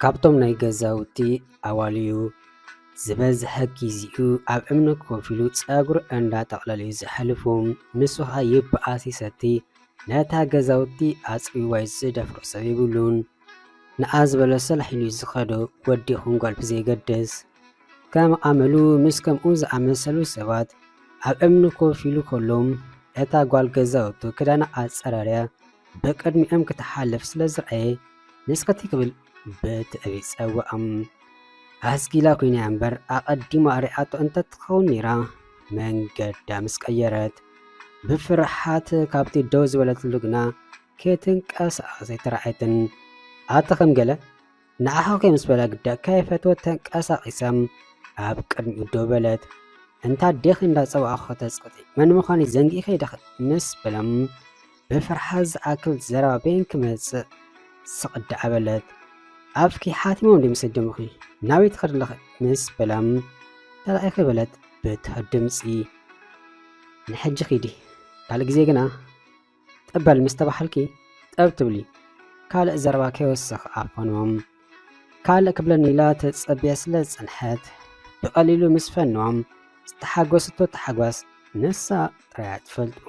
ካብቶም ናይ ገዛውቲ ኣዋልዩ ዝበዝሐ ጊዜኡ ኣብ እምኒ ኮፍ ኢሉ ፀጉሪ እንዳጠቕለለ እዩ ዘሕልፍ። ንሱ ኸዓ ይበኣስ ይሰቲ ነታ ገዛውቲ ኣፅርይዋ እዩ ዝደፍሮ ሰብ የብሉን። ንዓ ዝበሎ ሰላሕ ኢሉ እዩ ዝኸዶ ወዲ ይኹን ጓል ብዘየገድስ። ከም ኣመሉ ምስ ከምኡ ዝኣመሰሉ ሰባት ኣብ እምኒ ኮፍ ኢሉ ከሎ እታ ጓል ገዛውቱ ክዳና ኣጸራርያ ብቅድሚኦም ክትሓልፍ ስለ ዝረኣየ ንስከቲ ክብል ብትዕቢት ጸውዖም ኣስጊላ ኮይና እምበር ኣቐዲማ ርኣቶ እንተትኸውን ነይራ መንገዳ ምስ ቀየረት ብፍርሓት ካብቲ ደው ዝበለትሉ ግና ከይትንቀሳቐሰ ኣይተረኣየትን ኣቲ ከም ገለ ንዓኻ ምስ በላ ግዳ ከይፈተወት ተንቀሳቒሳ ኣብ ቅድሚኡ ደው በለት። እንታ ኣዴኺ እንዳጸዋዕኹ ከተጽቅጢ መን ምዃነይ ዘንጊእኺ ዲኺ ምስ በሎም ብፍርሓት ዝኣክል ዘረባ በይን ክመጽእ ስቕ ደኣ በለት። ኣፍኪ ሓቲሞም ድዩ ምስ ደምኺ ናበይ ትኸዲ ኣለኺ ምስ በሎም ተራኢኺ በለት ብትሑት ድምጺ። ንሕጂ ኺዲ ካልእ ግዜ ግና ጠበል ምስ ተባሃልኪ ጠብ ትብሊ ካልእ ዘረባ ከይወስኽ ኣፈኖም ካልእ ክብለኒ ኢላ ተጸብያ ስለ ዝጸንሐት ብቐሊሉ ምስ ፈኖም ዝተሓጎስቶ ተሓጓስ ንሳ ጥራያ ትፈልጡ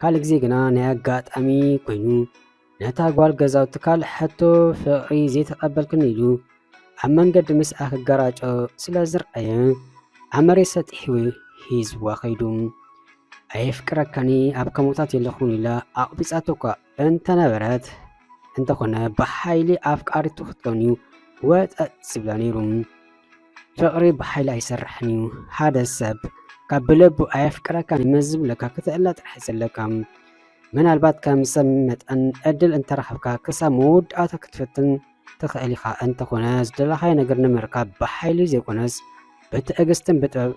ካልእ ግዜ ግና ናይ ኣጋጣሚ ኮይኑ ነታ ጓል ገዛውቲ ካልእ ሕቶ ፍቕሪ ዘይተቐበልክን ኢሉ ኣብ መንገዲ ምስኣ ክገራጮ ስለ ዝርኣየ ኣብ መሬት ሰጢሑ ሂዝዋ ከይዱ። ኣየፍቅረካኒ ኣብ ከሞታት የለኹን ኢላ ኣቕቢጻቶ እኳ እንተነበረት እንተኾነ ብሓይሊ ኣፍቃሪቱ ክትከውን እዩ ወጠጥ ዝብላ ነይሩ። ፍቕሪ ብሓይሊ ኣይሰርሕን እዩ። ሓደ ሰብ ካብ ብለቡ ኣየፍቅረካን መዝብለካ ክትእለ ጥራሕ ዘለካ ምናልባት ከም ሰብ መጠን ዕድል እንተረኸብካ ክሳብ መወዳእታ ክትፍትን ትኽእል ኢኻ። እንተኾነ ዝደለኻዮ ነገር ንምርካብ ብሓይሊ ዘይኮነስ ብትዕግስትን ብጥበብ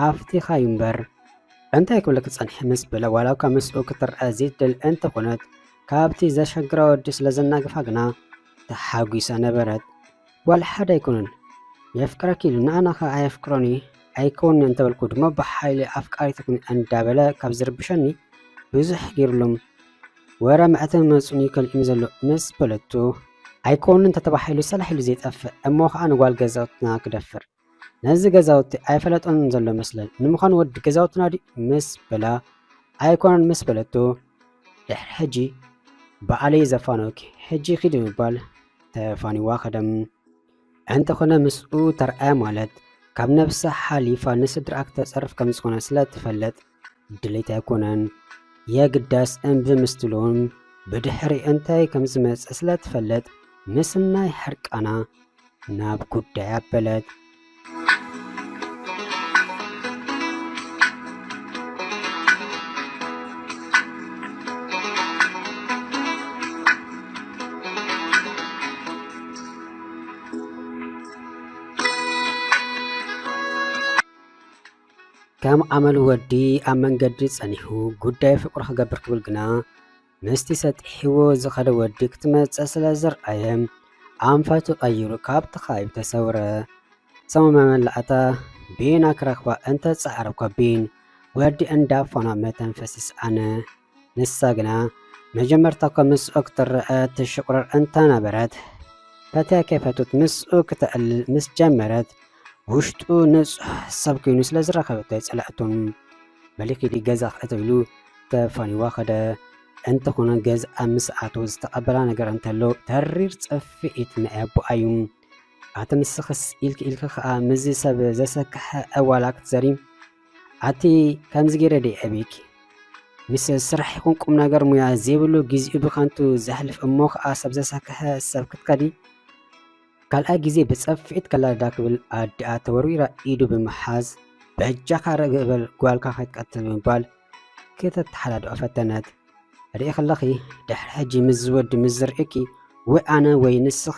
ኣፍቲኻ እዩ እምበር እንታይ ክብል ክጸንሐ ምስ በለ ዋላ እኳ ምስኡ ክትርአ ዘይትደል እንተኾነት ካብቲ ዘሸግራ ወዲ ስለ ዘናግፋ ግና ተሓጒሳ ነበረት። ጓል ሓደ ኣይኮነን የፍቅረኪ ኢሉ ንኣና ከ ኣየፍቅሮን እዩ ኣይከውንን እንተበልኩ ድማ ብሓይሊ ኣፍቃሪት ኩኒ እንዳበለ ካብ ዝርብሸኒ ብዙሕ ገይሩሎም ወረ መዕተብ መፅኡኒ ከልእኒ ዘሎ ምስ በለቱ ኣይከውንን ተተባሂሉ ሰላሕ ኢሉ ዘይጠፍእ እሞ ከዓ ንጓል ገዛውትና ክደፍር ነዚ ገዛውቲ ኣይፈለጦን ዘሎ መስለን ንምዃኑ ወዲ ገዛውትና ድዩ ምስ በላ ኣይኮነን ምስ በለቶ ድሕሪ ሕጂ በዓለይ ዘፋኖኪ ሕጂ ኪዲ ምባል ተፋኒዋ ከደም እንተኾነ ምስኡ ተርኣያ ማለት ካብ ነብሳ ሓሊፋ ንስድራኣ ክተጸርፍ ከም ዝኾነ ስለ ትፈልጥ ድሌት ኣይኮነን የግዳስ እምቢ ምስትሉን ብድሕሪ እንታይ ከም ዝመጽእ ስለ ትፈልጥ ምስናይ ሕርቃና ናብ ጉዳይ ኣበለት ከም ኣመል ወዲ ኣብ መንገዲ ጸኒሑ ጉዳይ ፍቅሩ ክገብር ክብል ግና ምስቲ ሰጢሕዎ ዝኸደ ወዲ ክትመጽእ ስለ ዝርኣየ ኣንፈቱ ቀይሩ ካብቲ ከባቢ ተሰውረ። ሰሙ መመላእታ ቢና ክረኽባ እንተ ጻዕረ እኳ ቢን ወዲ እንዳ ፎና መተንፈሲ ሰኣነ። ንሳ ግና መጀመርታ እኳ ምስኡ ክትረኣ ትሽቑርር እንተ ነበረት፣ ፈትያ ከይፈትወት ምስኡ ክተዕልል ምስ ጀመረት፣ ውሽጡ ንጹሕ ሰብ ኮይኑ ስለ ዝረኸበቶ ኣይጸልኣቶ። በሊ ኪዲ ገዛ ክእቶ ኢሉ ተፋኒዋ ከደ። እንተኾነ ገዝኣ ምስ ኣተወ ዝተቐበላ ነገር እንተሎ ተሪር ጽፍኢት ናይ ኣቦኣ እዩ። ኣቲ ንስኽስ ኢልኪ ኢልኪ ከኣ ምስዚ ሰብ ዘሰክሐ ዕዋላ ክትዘሪ ኣቲ ከምዚ ገይረ ደይ ዕብይኪ ምስ ስራሕ ይኹን ቁም ነገር ሙያ ዘይብሉ ግዜኡ ብከንቱ ዘሕልፍ እሞ ከዓ ሰብ ዘሳክሐ ሰብ ክትከዲ ካልኣይ ግዜ ብፀፍዒት ከላዳ ክብል ኣዲኣ ተወርዊራ ኢዱ ብምሓዝ በጃኻ ርግእ በል ጓልካ ከይትቀትል ብምባል ከተተሓላድኦ ፈተነት። ርኢ ከለኺ ድሕሪ ሕጂ ምስ ዝወዲ ምስ ዝርእኪ ወይ ኣነ ወይ ንስኺ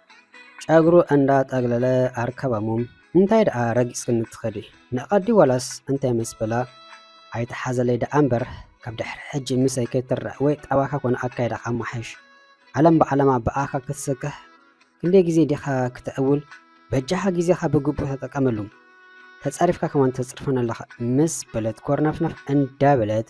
ጨግሩ እንዳ ጠግለለ ኣርከበሙም እንታይ ደኣ ረጊጽክኒ ትከዲ ንቀዲ ዋላስ እንታይ ምስ በላ ኣይትሓዘለይ ደኣ እምበር ካብ ድሕሪ ሕጂ ምሰይ ከይትረኣ ወይ ጣባካ ኮነ ኣካይዳካ ኣማሓይሽ ዓለም ብዓለማ ብኣካ ክትስክሕ ክንደይ ግዜ ዲካ ክተዕውል በጃካ ግዜካ ብግቡእ ተጠቀመሉ ተጸሪፍካ ከማን ተጽርፈና ኣለካ ምስ በለት ኮርነፍነፍ እንዳበለት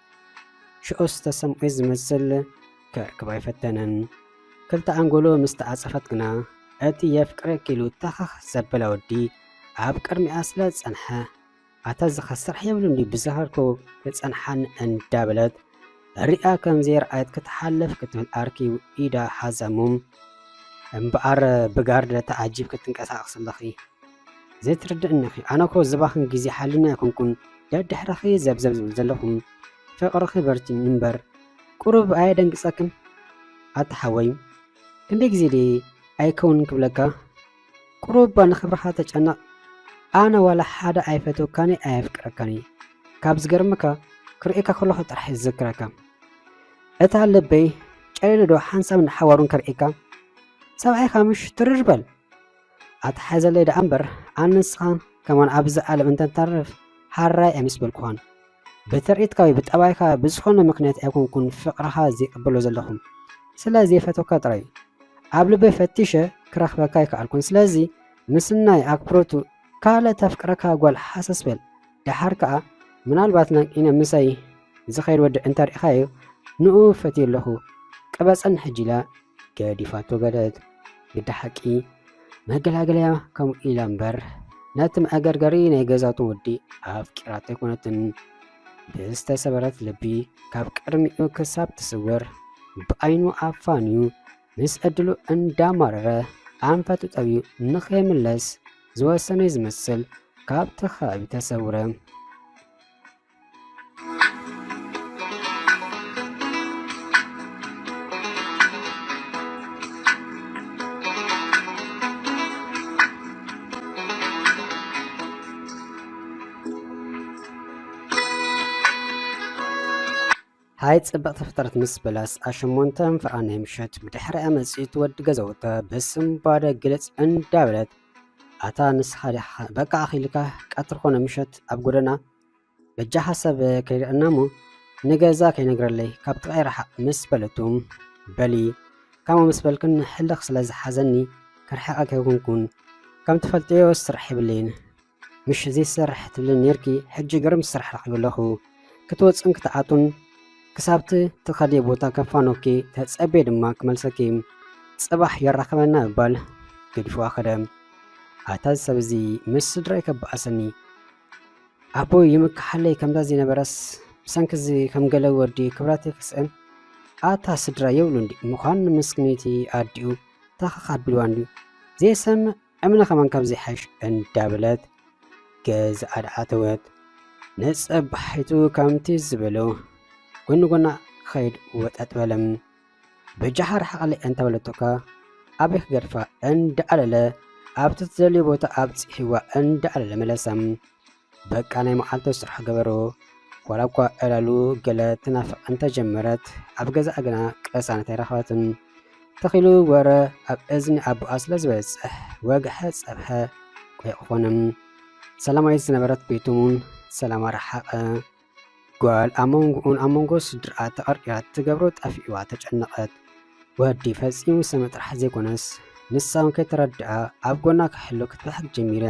ሽዑስ ተሰምዔ ዝመስል ክዕቅብ ኣይፈተነን። ክልተ ኣንጎሎ ምስ ተዓጸፈት ግና እቲ የፍቅረኪ ኢሉ ተኸኽ ዘበለ ወዲ ኣብ ቅድሚኣ ስለ ዝጸንሐ ኣታ ዝኸስራሕ የብሉን ድዩ ብዝኸርኩ ክጸንሓኒ እንዳበለት ሪኣ ከም ዘይረኣየት ክትሓልፍ ክትብል ኣርኪ ኢዳ ሓዛሙም እምበኣር ብጋርድ ተዓጂብ ክትንቀሳቐስ ኣለኺ ዘይትርድእኒኺ ኣነኮ ዝባኽን ግዜ ሓሊና ኣይኮንኩን ደድሕርኺ ዘብዘብ ዝብል ዘለኹ ፍቅርኺ በርቲዑ እምበር ቁሩብ ኣየደንግጸክን ኣታ ሓወይ ክንደይ ግዜ ድየ ኣይከውን ክብለካ ቁሩብ እባ ንክብርኻ ተጨነቕ ኣነ ዋላ ሓደ ኣይፈትወካኒ ኣየፍቅረካኒ ካብ ዝገርመካ ክርእየካ ከለኹ ጥራሕ ዝዝክረካ እታ ልበይ ጨሊሉ ዶ ሓንሳብን ሓዋሩን ከርእየካ ሰብኣይካ ምሽ ትርር በል ኣትሓዘለይ ደኣ እምበር ኣነ ንስኻ ከማን ኣብዚ ዓለም እንተንተርፍ ሓራይ ኣይምስበልኩኻን ብትርኢትካ ወይ ብጠባይካ ብዝኾነ ምክንያት ኣይኮንኩን ፍቅርኻ ዘይቅበሎ ዘለኹ ስለ ዘይፈተካ ጥራይ እዩ ኣብ ልበይ ፈቲሸ ክረኽበካ ኣይከኣልኩን ስለዚ ምስናይ ኣክብሮቱ ካልእ ተፍቅረካ ጓል ሓሰስ በል ደሓር ከኣ ምናልባት ናቂነ ምሳይ ዝኸይድ ወዲ እንተርኢኻዮ ንኡ ፈትየ ኣለኹ ቅበጸን ሕጂ ኢላ ገዲፋቶ በለት ግዲ ሓቂ መገላገለያ ከምኡ ኢላ እምበር ነቲ መዕገርገሪ ናይ ገዛቱ ወዲ ኣፍቂራቶ ኣይኮነትን ብዝተሰበረት ልቢ ካብ ቅድሚኡ ክሳብ ትስውር ብኣይኑ ኣፋንዩ ምስ ዕድሉ እንዳማረረ ኣንፈቱ ጠብዩ ንኸይምለስ ዝወሰነ ዝመስል ካብቲ ከባቢ ተሰውረ ሃይ ጽብቕቲ ፍጥረት ምስ በለስ ኣሸሞንተ እንፍራ ናይ ምሸት ብድሕሪ ኣመጺት ወዲ ገዘውተ ብስም ባደ ግልጽ እንዳበለት ኣታ ንስኻ በቃ ኣኺልካ ቀትሪ ኮነ ምሸት ኣብ ጎደና በጃ ሓሳብ ከይርአና እሞ ንገዛ ከይነግረለይ ካብ ጥቓይ ረሓቕ ምስ በለቱ በሊ ከምኡ ምስ በልክን ሕልኽ ስለ ዝሓዘኒ ክርሕቐ ከይኮንኩን ከም ትፈልጥዮ ስራሕ የብለይን ምሽ እዚ ስራሕ ትብልን ነርኪ ሕጂ ግርም ስራሕ ረኺቡ ኣለኹ ክትወፅን ክትኣቱን ክሳብቲ ትኸዲ ቦታ ከፋኖኪ ተፀቤ ድማ ክመልሰኪ ፅባሕ የራኽበና እባል ገዲፍዋ ኸደ ኣታ ሰብ እዚ ምስ ስድራይ ከበኣሰኒ ኣቦይ ይምካሓለይ ከምዛ ዝነበረስ ብሰንኪ እዚ ከም ገለ ወዲ ክብረተይ ክስእን ኣታ ስድራ የብሉ እንዲ ምዃን ንምስክነይቲ ኣዲኡ ታኻኽ ኣቢልዋ እንድዩ ዘይሰምዕ እምነ ከማን ካብ ዘይሓሽ እንዳበለት ገዝኣ ኣድኣተወት ነጸባሒቱ ከምቲ ዝበሎ ጎኒ ጎና ክኸይድ ወጠጥ በለ ብጀሓር ሓቕሊ እንተበለቶካ ኣበይ ክገድፋ እንዳኣለለ ኣብቲ ትደልዮ ቦታ ኣብፂሕዋ እንዳኣለለ መለሳ በቃ ናይ መዓልቱ ስራሕ ገበሮ ዋላ እኳ ዕላሉ ገለ ትናፍቕ እንተጀመረት ኣብ ገዛኣ ግና ቅሳነት ኣይረኸበትን ተኺሉ ወረ ኣብ እዝኒ ኣቦኣ ስለ ዝበፅሕ ወግሐ ፀብሐ ቆይቕ ኮነ ሰላማዊት ዝነበረት ቤቱ እውን ሰላማ ረሓቐ ጓል ኣብ መንጎኡን ኣብ መንጎ ስድርኣ ተቐርቂራ እትገብሮ ጠፊኡዋ ተጨነቐት። ወዲ ፈጺሙ ዝሰምዕ ጥራሕ ዘይኮነስ ንሳ እውን ከይተረድኣ ኣብ ጎና ክሕሎ ክትበሕግ ጀሚራ።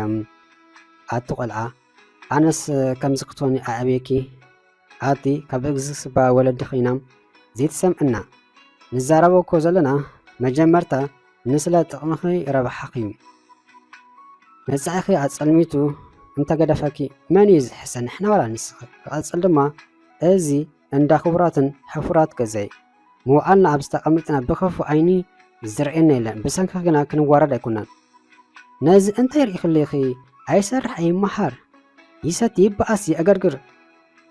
ኣቲ ቆልዓ ኣነስ ከምዚ ክትኾኒ ኣዕብየኪ ኣቲ ካብ ዝስባ ወለዲ ኮይና ዘይትሰምዕና ንዛረቦ እኮ ዘለና መጀመርታ ንስለ ጥቕምኺ ረብሓኺ መጻኢኺ ኣጸልሚቱ እንተገደፈኪ መን እዩ ዝሕሰ ንሕና ዋላ ንስኺ ክቐጽል ድማ እዚ እንዳ ክቡራትን ሕፉራት ገዛይ ምውዓልና ኣብ ዝተቐምጥና ብክፉ ዓይኒ ዝርእየና የለን ብሰንኪ ግና ክንዋረድ ኣይኮናን ነዚ እንታይ ርኢኽልኺ ኣይሰርሕ ኣይመሃር ይሰቲ ይበኣስ ይዕገርግር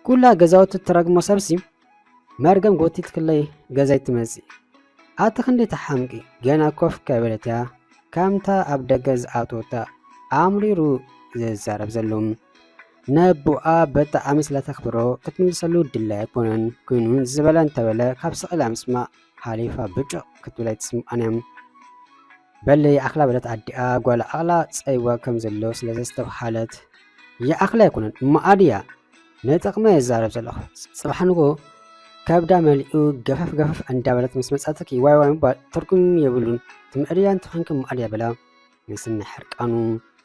ኩላ ገዛውቲ ትረግሞ ሰብሲ መርገም ጎቲትክለይ ገዛይ ትመጽእ ኣቲ ክንዲ ተሓምቂ ገና ኮፍ ከበለት እያ ከምታ ኣብ ደገ ዝኣተወታ ኣምሪሩ ዝዛረብ ዘሎ ነቦኣ በጣዕሚ ስለተኽብሮ ክትምልሰሉ ድላይ ኣይኮነን ኮይኑ ዝበለ እንተበለ ካብ ስቕላ ምስማዕ ሓሊፋ ብጭቕ ክትብል ኣይትስምዖን እያ። በሊ ይኣኽላ በለት ኣዲኣ ጓላ ኣቕላ ጸይዋ ከም ዘሎ ስለ ዘስተብሃለት። ይኣኽላ ኣይኮነን እሞ ኣድያ ንጥቕመ ይዛረብ ዘለኹ ጽባሕ ንጎ ከብዳ መሊኡ ገፈፍ ገፈፍ እንዳበለት ምስ መጻትኪ ዋይ ዋይ ምባል ትርጉም የብሉን ትምዕድያን ትኾንኪ ማዕድያ በላ ምስኒ ሕርቃኑ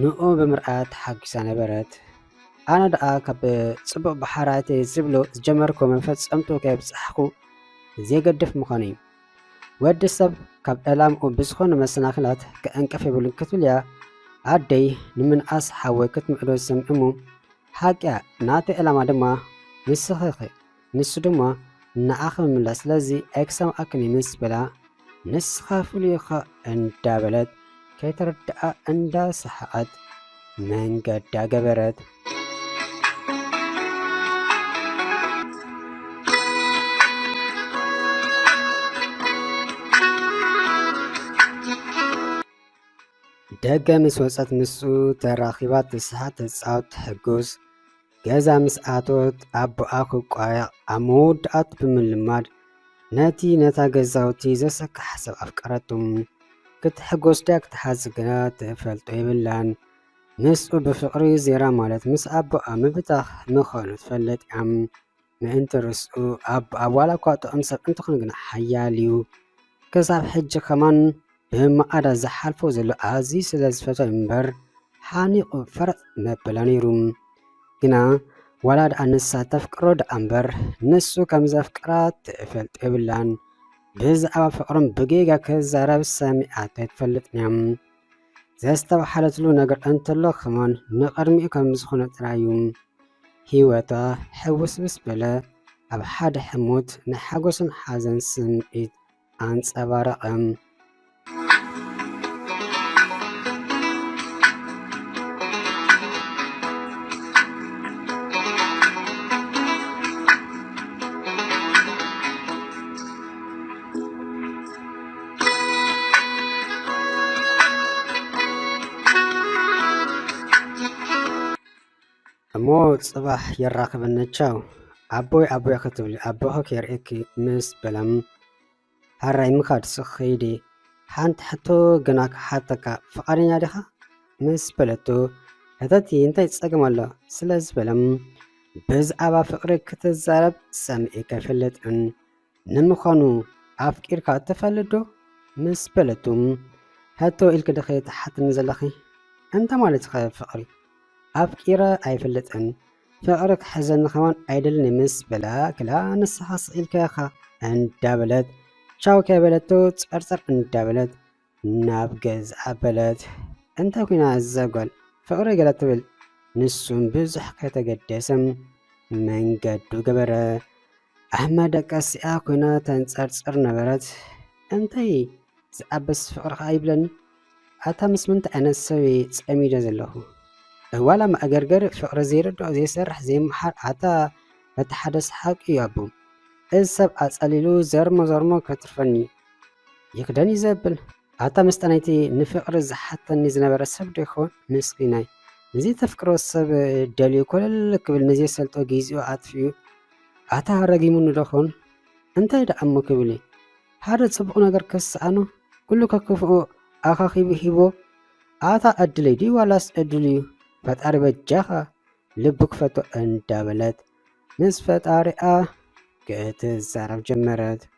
ንኡ ብምርኣያ ተሓጒሳ ነበረት። ኣነ ደኣ ካብ ጽቡቕ ብሓራተይ ዝብሉ ዝጀመርኩ መፈጸምቱ ከየብጻሕኩ ዘይገድፍ ምዃነይ'ዩ። ወዲ ሰብ ካብ ዕላምኡ ብዝኾኑ መሰናኽላት ክዕንቅፍ የብሉን ክትብል'ያ ኣደይ ንምንኣስ ሓወይ ክትምዕዶ ዝሰምዕ'ሞ፣ ሓቂ'ያ ናተይ ዕላማ ድማ ንስኺ'ኺ። ንሱ ድማ ንዓ ክምምላ ስለዚ ኣይክሰም ኣክን ምስ በላ ንስኻ ፍሉይ እኻ እንዳ በለት ከይተረድኣ እንዳ ሰሓቐት መንገዳ ገበረት። ደገ ምስ ወፀት ምስኡ ተራኺባ ትስሓቅ ትፃወት ትሕጉስ ገዛ ምስ ኣተወት ኣቦኣ ክቋየቕ ኣብ መወዳእቱ ብምልማድ ነቲ ነታ ገዛውቲ ዘሰካሕ ሰብ ኣፍቀረቱ። ክትሕጎስ ድያ ክትሓዝ ግና ትፈልጦ የብላን። ምስኡ ብፍቕሪ ዜራ ማለት ምስ ኣቦኣ ምብታኽ ምዃኑ ትፈልጥ እያ። ምእንቲ ርስኡ ኣብ ኣብ ዋላ እኳ ጥዑም ሰብ እንተኾነ ግና ሓያል እዩ ክሳብ ሕጂ ከማን ብመቓዳ ዝሓልፎ ዘሎ ኣዝዩ ስለ ዝፈትዎ እምበር ሓኒቑ ፈረጥ መበለ ነይሩ ግና ዋላ ደኣ ንሳ ተፍቅሮ ደኣ እምበር ንሱ ከም ዘፍቅራ ትፈልጥ የብላን ብዛዕባ ፍቕሮም ብጌጋ ክዛረብ ሰሚዓቶ ኣይትፈልጥን እያ ዘስተብሓለትሉ ነገር እንተሎ ከማን ንቐድሚኡ ከም ዝኾነ ጥራዩ ህይወታ ሕውስብስ በለ። ኣብ ሓደ ሕሞት ናይ ሓጎስን ሓዘን ስምዒት ኣንጸባረቐ። እሞ ጽባሕ የራኽበና ቻው ኣቦይ ኣቦይ ክትብሊ ኣቦኺ ከርእኪ ምስ በላም ሃራይ ምኻድ ስኸይዲ ሓንቲ ሕቶ ግና ክሓተካ ፍቓደኛ ዲኻ ምስ በለቶ ሕተቲ እንታይ ጸገም ኣሎ ስለ ዝበለም ብዛዕባ ፍቕሪ ክትዛረብ ሰሚዒ ከይፈልጥን ንምዃኑ ኣፍቂርካ ትፈልጥ ዶ ምስ በለቱ ሕቶ ኢልኪ ድኺ ትሓትኒ ዘለኺ? እንታይ ማለትኺ ፍቕሪ? ኣፍቂረ ኣይፈልጥን ፍቕሪ ክሕዘኒ ከማን ኣይደልን ምስ በላ ክላ ንስኻ ስኢልካ ኢኻ እንዳበለት ቻው ከይበለቶ ጸርጸር እንዳበለት ናብ ገዝ ኣበለት እንተ ኩና እዛ ጓል ፍቕሪ ገለ ትብል ንሱም ብዙሕ ከይተገደሰ መንገዱ ገበረ ኣብ መደቀሲኣ ኩና ተንጸርጽር ነበረት እንታይ ዝኣበስ ፍቕሪ ከኣ ይብለኒ ኣታ ምስ ምንታይ ዓይነት ሰብ እየ ጸሚደ ዘለኹ ዋላ መእገርገሪ ፍቕሪ ዘይርድኦ ዘይሰርሕ ዘይመሓር ኣታ በቲ ሓደ ሰሓቂ እዩ ኣቦ እዚ ሰብ ኣጸሊሉ ዘርሞ ዘርሞ ከትርፈኒ ይኽደን እዩ ዘብል ኣታ መስጠናይቲ ንፍቕሪ ዝሓተኒ ዝነበረ ሰብ ዶ ይኸውን ምስኪናይ ንዚ ተፍቅሮ ሰብ ደልዩ ኮለል ክብል ንዘይሰልጦ ጊዜኡ ኣጥፊኡ ኣታ ረጊሙኒ ዶ ኸውን እንታይ ደኣ እሞ ክብል እዩ ሓደ ጽቡቕ ነገር ክስኣኖ ኩሉ ከክፍኡ ኣኻኺቡ ሂቦ ኣታ ዕድለይ ድዩ ዋላስ ዕድሉ እዩ ፈጣሪ በጃኻ ልቡ ክፈቶ እንዳበለት ምስ ፈጣሪኣ ክትዛረብ ጀመረት።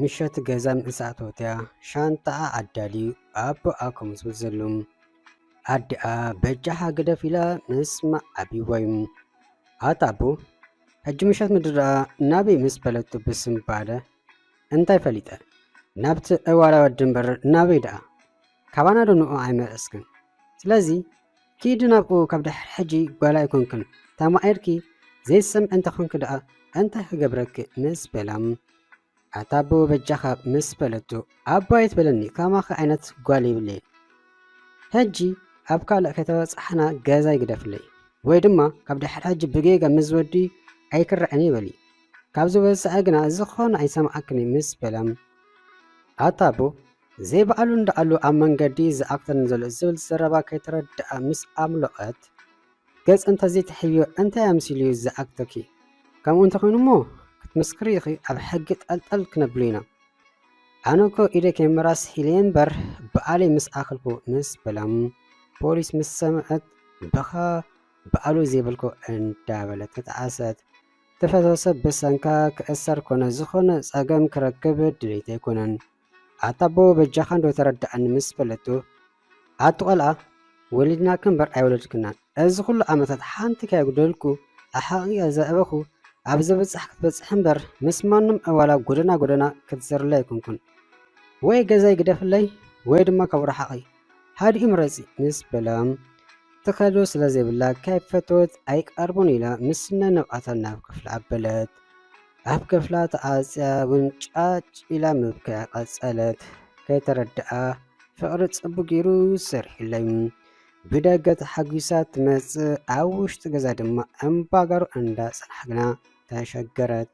ምሸት ገዛ ምስ ኣተወትያ ሻንጣኣ ኣዳልዩ ኣቦኣ ከምዝብል ዘሎ ኣዲኣ በጃኻ ግደፍ ኢላ ምስ መዓብይወይ ኣታ ኣቦ ሕጂ ምሸት ምድረኣ ናበይ ምስ በለቱ ብስምባደ እንታይ ፈሊጠ ናብቲ ዕዋላ ወዲ እምበር ናበይ ደኣ ካባና ዶ ንዑ ኣይመለስክን ስለዚ ኪዲ ናብኡ ካብ ድሕሪ ሕጂ ጓል ኣይኮንክን ተማኢርኪ ዘይትሰምዒ እንተኮንኪ ደኣ እንታይ ክገብረኪ ምስ በላ ኣታ ኣቦ በጃኻ ምስ በለቶ ኣቦ ኣይትበለኒ ከማኺ ዓይነት ጓል ይብለይ ሕጂ ኣብ ካልእ ከተበጻሕና ገዛ ይግደፍለይ ወይ ድማ ካብ ድሕሪ ሕጂ ብጌጋ ምስ ወዲ ኣይክረዐን ይበሊ ካብዚ ወሳኢ ግና ዝኾነ ኣይሰምዓክን ምስ በላ ኣታ ኣቦ ዘይበኣሉ እንዳኣሉ ኣብ መንገዲ ይዝኣክተኒ ዘሎ ዝብል ዘረባ ከይተረደኣ ምስ ኣምሎቐት ገጽ እንተዘይትሕብዮ እንታይ ኣምሲሉ እዩ ዝዝኣክተኪ? ከምኡ እንተኾይኑ እሞ ክትምስክሪ ኢኺ ኣብ ሕጊ ጠልጠል ክነብሉ ኢና። ኣነ እኮ ኢደ ከይምራስ ሒለየ እምበር በኣለይ ምስ ኣኸልኩ ምስ በላም ፖሊስ ምስ ሰምዐት በኻ በኣሉ ዘይበልኮ እንዳበለት ተጣዓሰት። ተፈተሰ ብሰንካ ክእሰር ኮነ ዝኾነ ጸገም ክረክብ ድሌት ኣይኮነን። ኣታ ኣቦ በጃኻ እንዶ ተረድኣኒ ምስ በለቶ፣ ኣቲ ቆልኣ ወሊድናኪ እምበር ኣይወለድክናን፣ እዚ ኩሉ ዓመታት ሓንቲ ከየጉደልኩ ኣሕቒቐ ዘዕበኹ ኣብ ዘብጽሕ ክትበጽሒ እምበር ምስ ማንም ዕዋላ ጎደና ጎደና ክትዘርሊ ኣይኮንኩን። ወይ ገዛይ ግደፍለይ ወይ ድማ ካብኡ ርሓቒ። ሃድኢ ምረጺ ምስ በላ ትኸዶ ስለ ዘይብላ ከይፈተወት ኣይቀርቡን ኢላ ምስ ነነቓታ ናብ ክፍላ ኣበለት። ኣብ ክፍላ ተዓጽያ እውን ጫጭ ኢላ ምብክያ ቀጸለት። ከይተረድኣ ፍቕሪ ጽቡቕ ገይሩ ሰሪሑለይ ብደገ ተሓጒሳ ትመጽእ ኣብ ውሽጢ ገዛ ድማ እምባጋሩ እንዳጸናሕግና ተሸገረት።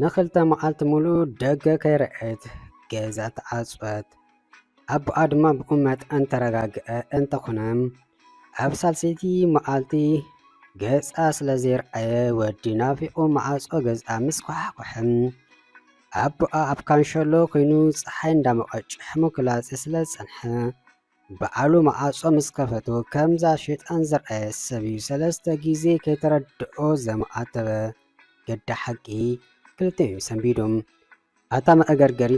ንክልተ መዓልቲ ሙሉእ ደገ ከይረኣየት ገዛ ተዓፅወት። ኣቦኣ ድማ ብኡ መጠን ተረጋግአ። እንተኾነ ኣብ ሳልሰይቲ መዓልቲ ገፃ ስለ ዘይረኣየ ወዲ ናፊቑ መዓፆ ገዛ ምስ ኳሓኳሐ ኣቦኣ ኣብ ካንሸሎ ኮይኑ ፀሓይ እንዳሞቐ ጭሕሙ ክላፀ ስለ ዝፀንሐ ብዓሉ መዓጾ ምስ ከፈቱ ከምዛ ሸጣን ዝርኣየ ሰብ እዩ ሰለስተ ግዜ ከይተረድኦ ዘማኣተበ ገዲ ሓቂ ክልተ እዩ ሰንቢዱ ኣታ መእገርገሪ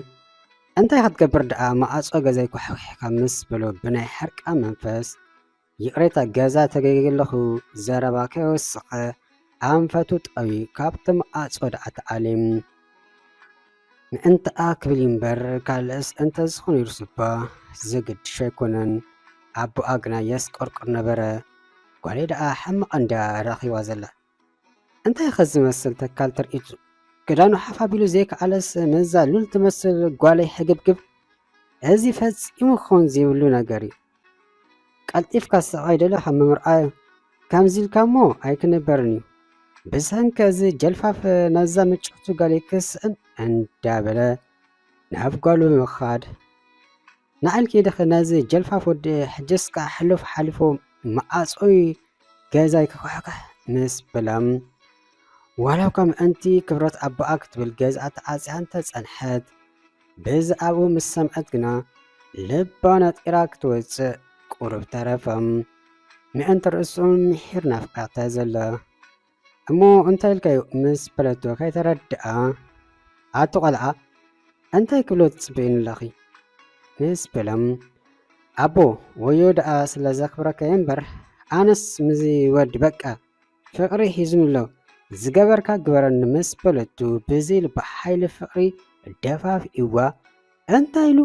እንታይ ክትገብር ደኣ መዓጾ ገዛይ ኳሕኪሕካ ምስ በሎ ብናይ ሕርቃ መንፈስ ይቕሬታ ገዛ ተገይለኹ ዘረባ ከይወሰኸ ኣንፈቱ ጠውዩ ካብቲ መዓጾ ደኣ ተኣልዩ ምእንትኣ ክብል እምበር ካልእስ እንተዝኾን ነይሩስ'ባ ዘገድሾ ኣይኮነን። ኣቦኣ ግና የስቆርቁር ነበረ። ጓለይ ደኣ ሕማቕ እንድያ ረኺባ ዘላ። እንታይ'ኸ ዝመስል ተካል ተርእዩ'ቱ? ክዳኑ ሓፍ ኣቢሉ ዘይከኣለስ ምስዛ ሉል ትመስል ጓለይ ሕግብግብ? እዚ ፈጺሙ ክኸውን ዘይብሉ ነገር'ዩ። ቀልጢፍካ ስቓይ ደለኻ ምምርኣዩ ከምዚ ኢልካ እሞ ኣይክንበርን እዩ ብሰንኪ እዚ ጀልፋፍ ነዛ ምጭቱ ጋል ይክስዕን እንዳበለ ናብ ጓሉ ምኻድ ንዓል ከይደኸ ነዚ ጀልፋፍ ወዲ ሕጅስ ከዓ ሕሉፍ ሓሊፉ መዓፆይ ገዛይ ክኳሕካሕ ምስ በላም ዋላ እኳ ምእንቲ ክብረት ኣቦኣ ክትብል ገዝኣ ተዓፅያ እንተፀንሐት ብዛዕባኡ ምስ ሰምዐት ግና ልባ ነጢራ ክትወጽእ ቁሩብ ተረፈ። ምእንቲ ርእሱ ምሒር ናፍቃታ ዘሎ እሞ እንታይ ኢልካዩ ምስ በለቶ ከይተረድኣ ኣቲ ቆልዓ እንታይ ክብሎ ትጽበይኒ ኣለኺ ምስ በሎም ኣቦ ወዮ ደኣ ስለ ዘኽብረካየ እምበር ኣነስ ምዚ ወዲ በቃ ፍቕሪ ሒዙኒ'ሎ ዝገበርካ ግበረኒ ምስ በለቶ ብዘይ ልባ ሓይሊ ፍቕሪ ደፋፊእዋ እንታይ ኢሉ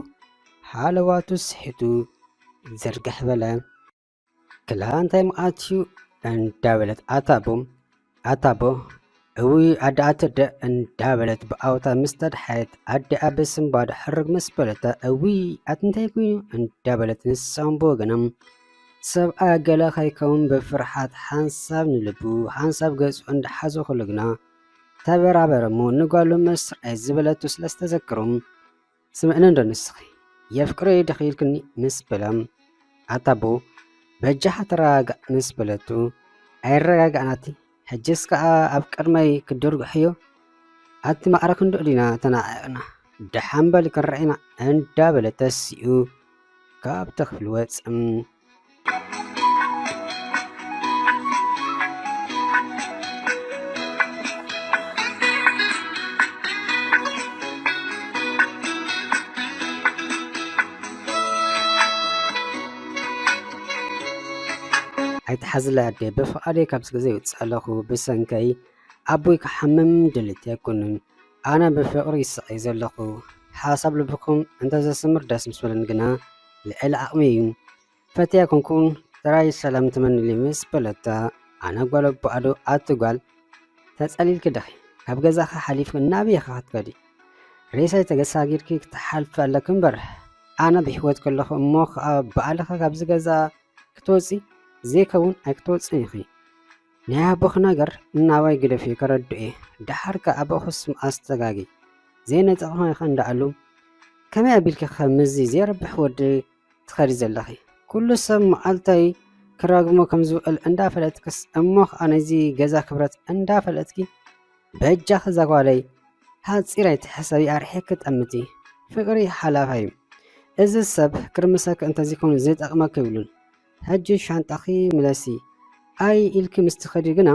ሃለዋቱ ስሒቱ ዝርግሕ በለ። ክላ እንታይ ምኣትዩ እንዳበለት ኣታቦ ኣታቦ እውይ ኣደኣ ትርደ እንዳበለት ብኣውታ ምስ ተድሓየት ኣደኣ ብስንባዶ ሕርግ ምስ በለታ እውይ ኣትንታይ ኮይኑ እንዳበለት ንሳውን ብወገኖም ሰብኣያ ገለ ከይከውን ብፍርሓት ሓንሳብ ንልቡ ሓንሳብ ገጹ እንዳሓዞ ከሎ ግና ተበራበረ እሞ ንጓሉ ምስ ርኣየት ዝበለቶ ስለ ዝተዘከሮም ስምዕንዶ ንስኺ የፍቅረይ ድኺ ኢልክኒ ምስ በላ ኣታ ኣቦ በጃኻ ተረጋጋእ ምስ በለቱ ኣይረጋጋእናቲ ሕጅስ ከኣ ኣብ ቅድመይ ክድርግሕዮ ኣቲ ማዕረ ክንድኡ ዲና ተናዒቕና ደሓን በል ክንርኢ ኢና እንዳበለ ተሲኡ ካብቲ ክፍሊ ወጸ። ኣይትሓዝለይ ኣደይ ብፍቓደይ ካብዚ ገዛ ይወፅእ ኣለኹ ብሰንከይ ኣቦይ ክሓምም ድልት ኣይኮኑን ኣነ ብፍቕሪ ይስቐይ ዘለኹ ሓሳብ ልብኹም እንተዘስምር ደስ ምስ በለኒ ግና ልዕሊ ዓቕሚ እዩ ፈትያ ኮንኩን ጥራይ ሰላም ትመንሊ ምስ በለታ ኣነ ጓል ኣቦ ኣዶ ኣቲ ጓል ተጸሊልኪ ድኺ ካብ ገዛኻ ሓሊፍኪ ናበይ ኢኻ ክትከዲ ሬሳይ ተገሳጊርኪ ክትሓልፊ ኣለኪ እምበር ኣነ ብሕይወት ከለኹ እሞ ከዓ ብኣልኺ ካብዚ ገዛ ክትወፂ ዘይከውን ኣይክትወፅን ኢኺ ናይ ኣቦኺ ነገር እናባይ ግደፊ ከረድኡ እየ ደሓር ከዓ ኣቦኺ ስም ኣስተጋጊ ዘይነጠቕኺ ኸ እንዳኣሉ ከመይ ኣቢልኪ ከምዚ ዘይረብሕ ወዲ ትኸዲ ዘለኺ ኩሉ ሰብ መዓልታይ ክራግሞ ከም ዝውዕል እንዳፈለጥክስ እሞ ከዓ ነዚ ገዛ ክብረት እንዳፈለጥኪ በጃኺ እዛ ጓለይ ሓፂር ኣይትሕሰቢ ኣርሒኪ ጠምቲ ፍቅሪ ሓላፋይ እዩ እዚ ሰብ ክርምሰኪ እንተዘይኮኑ ዝጠቅመኪ ይብሉን ሕጂ ሻንጣኺ ምለሲ ኣይ ኢልኪ ምስ ትኸዲ ግና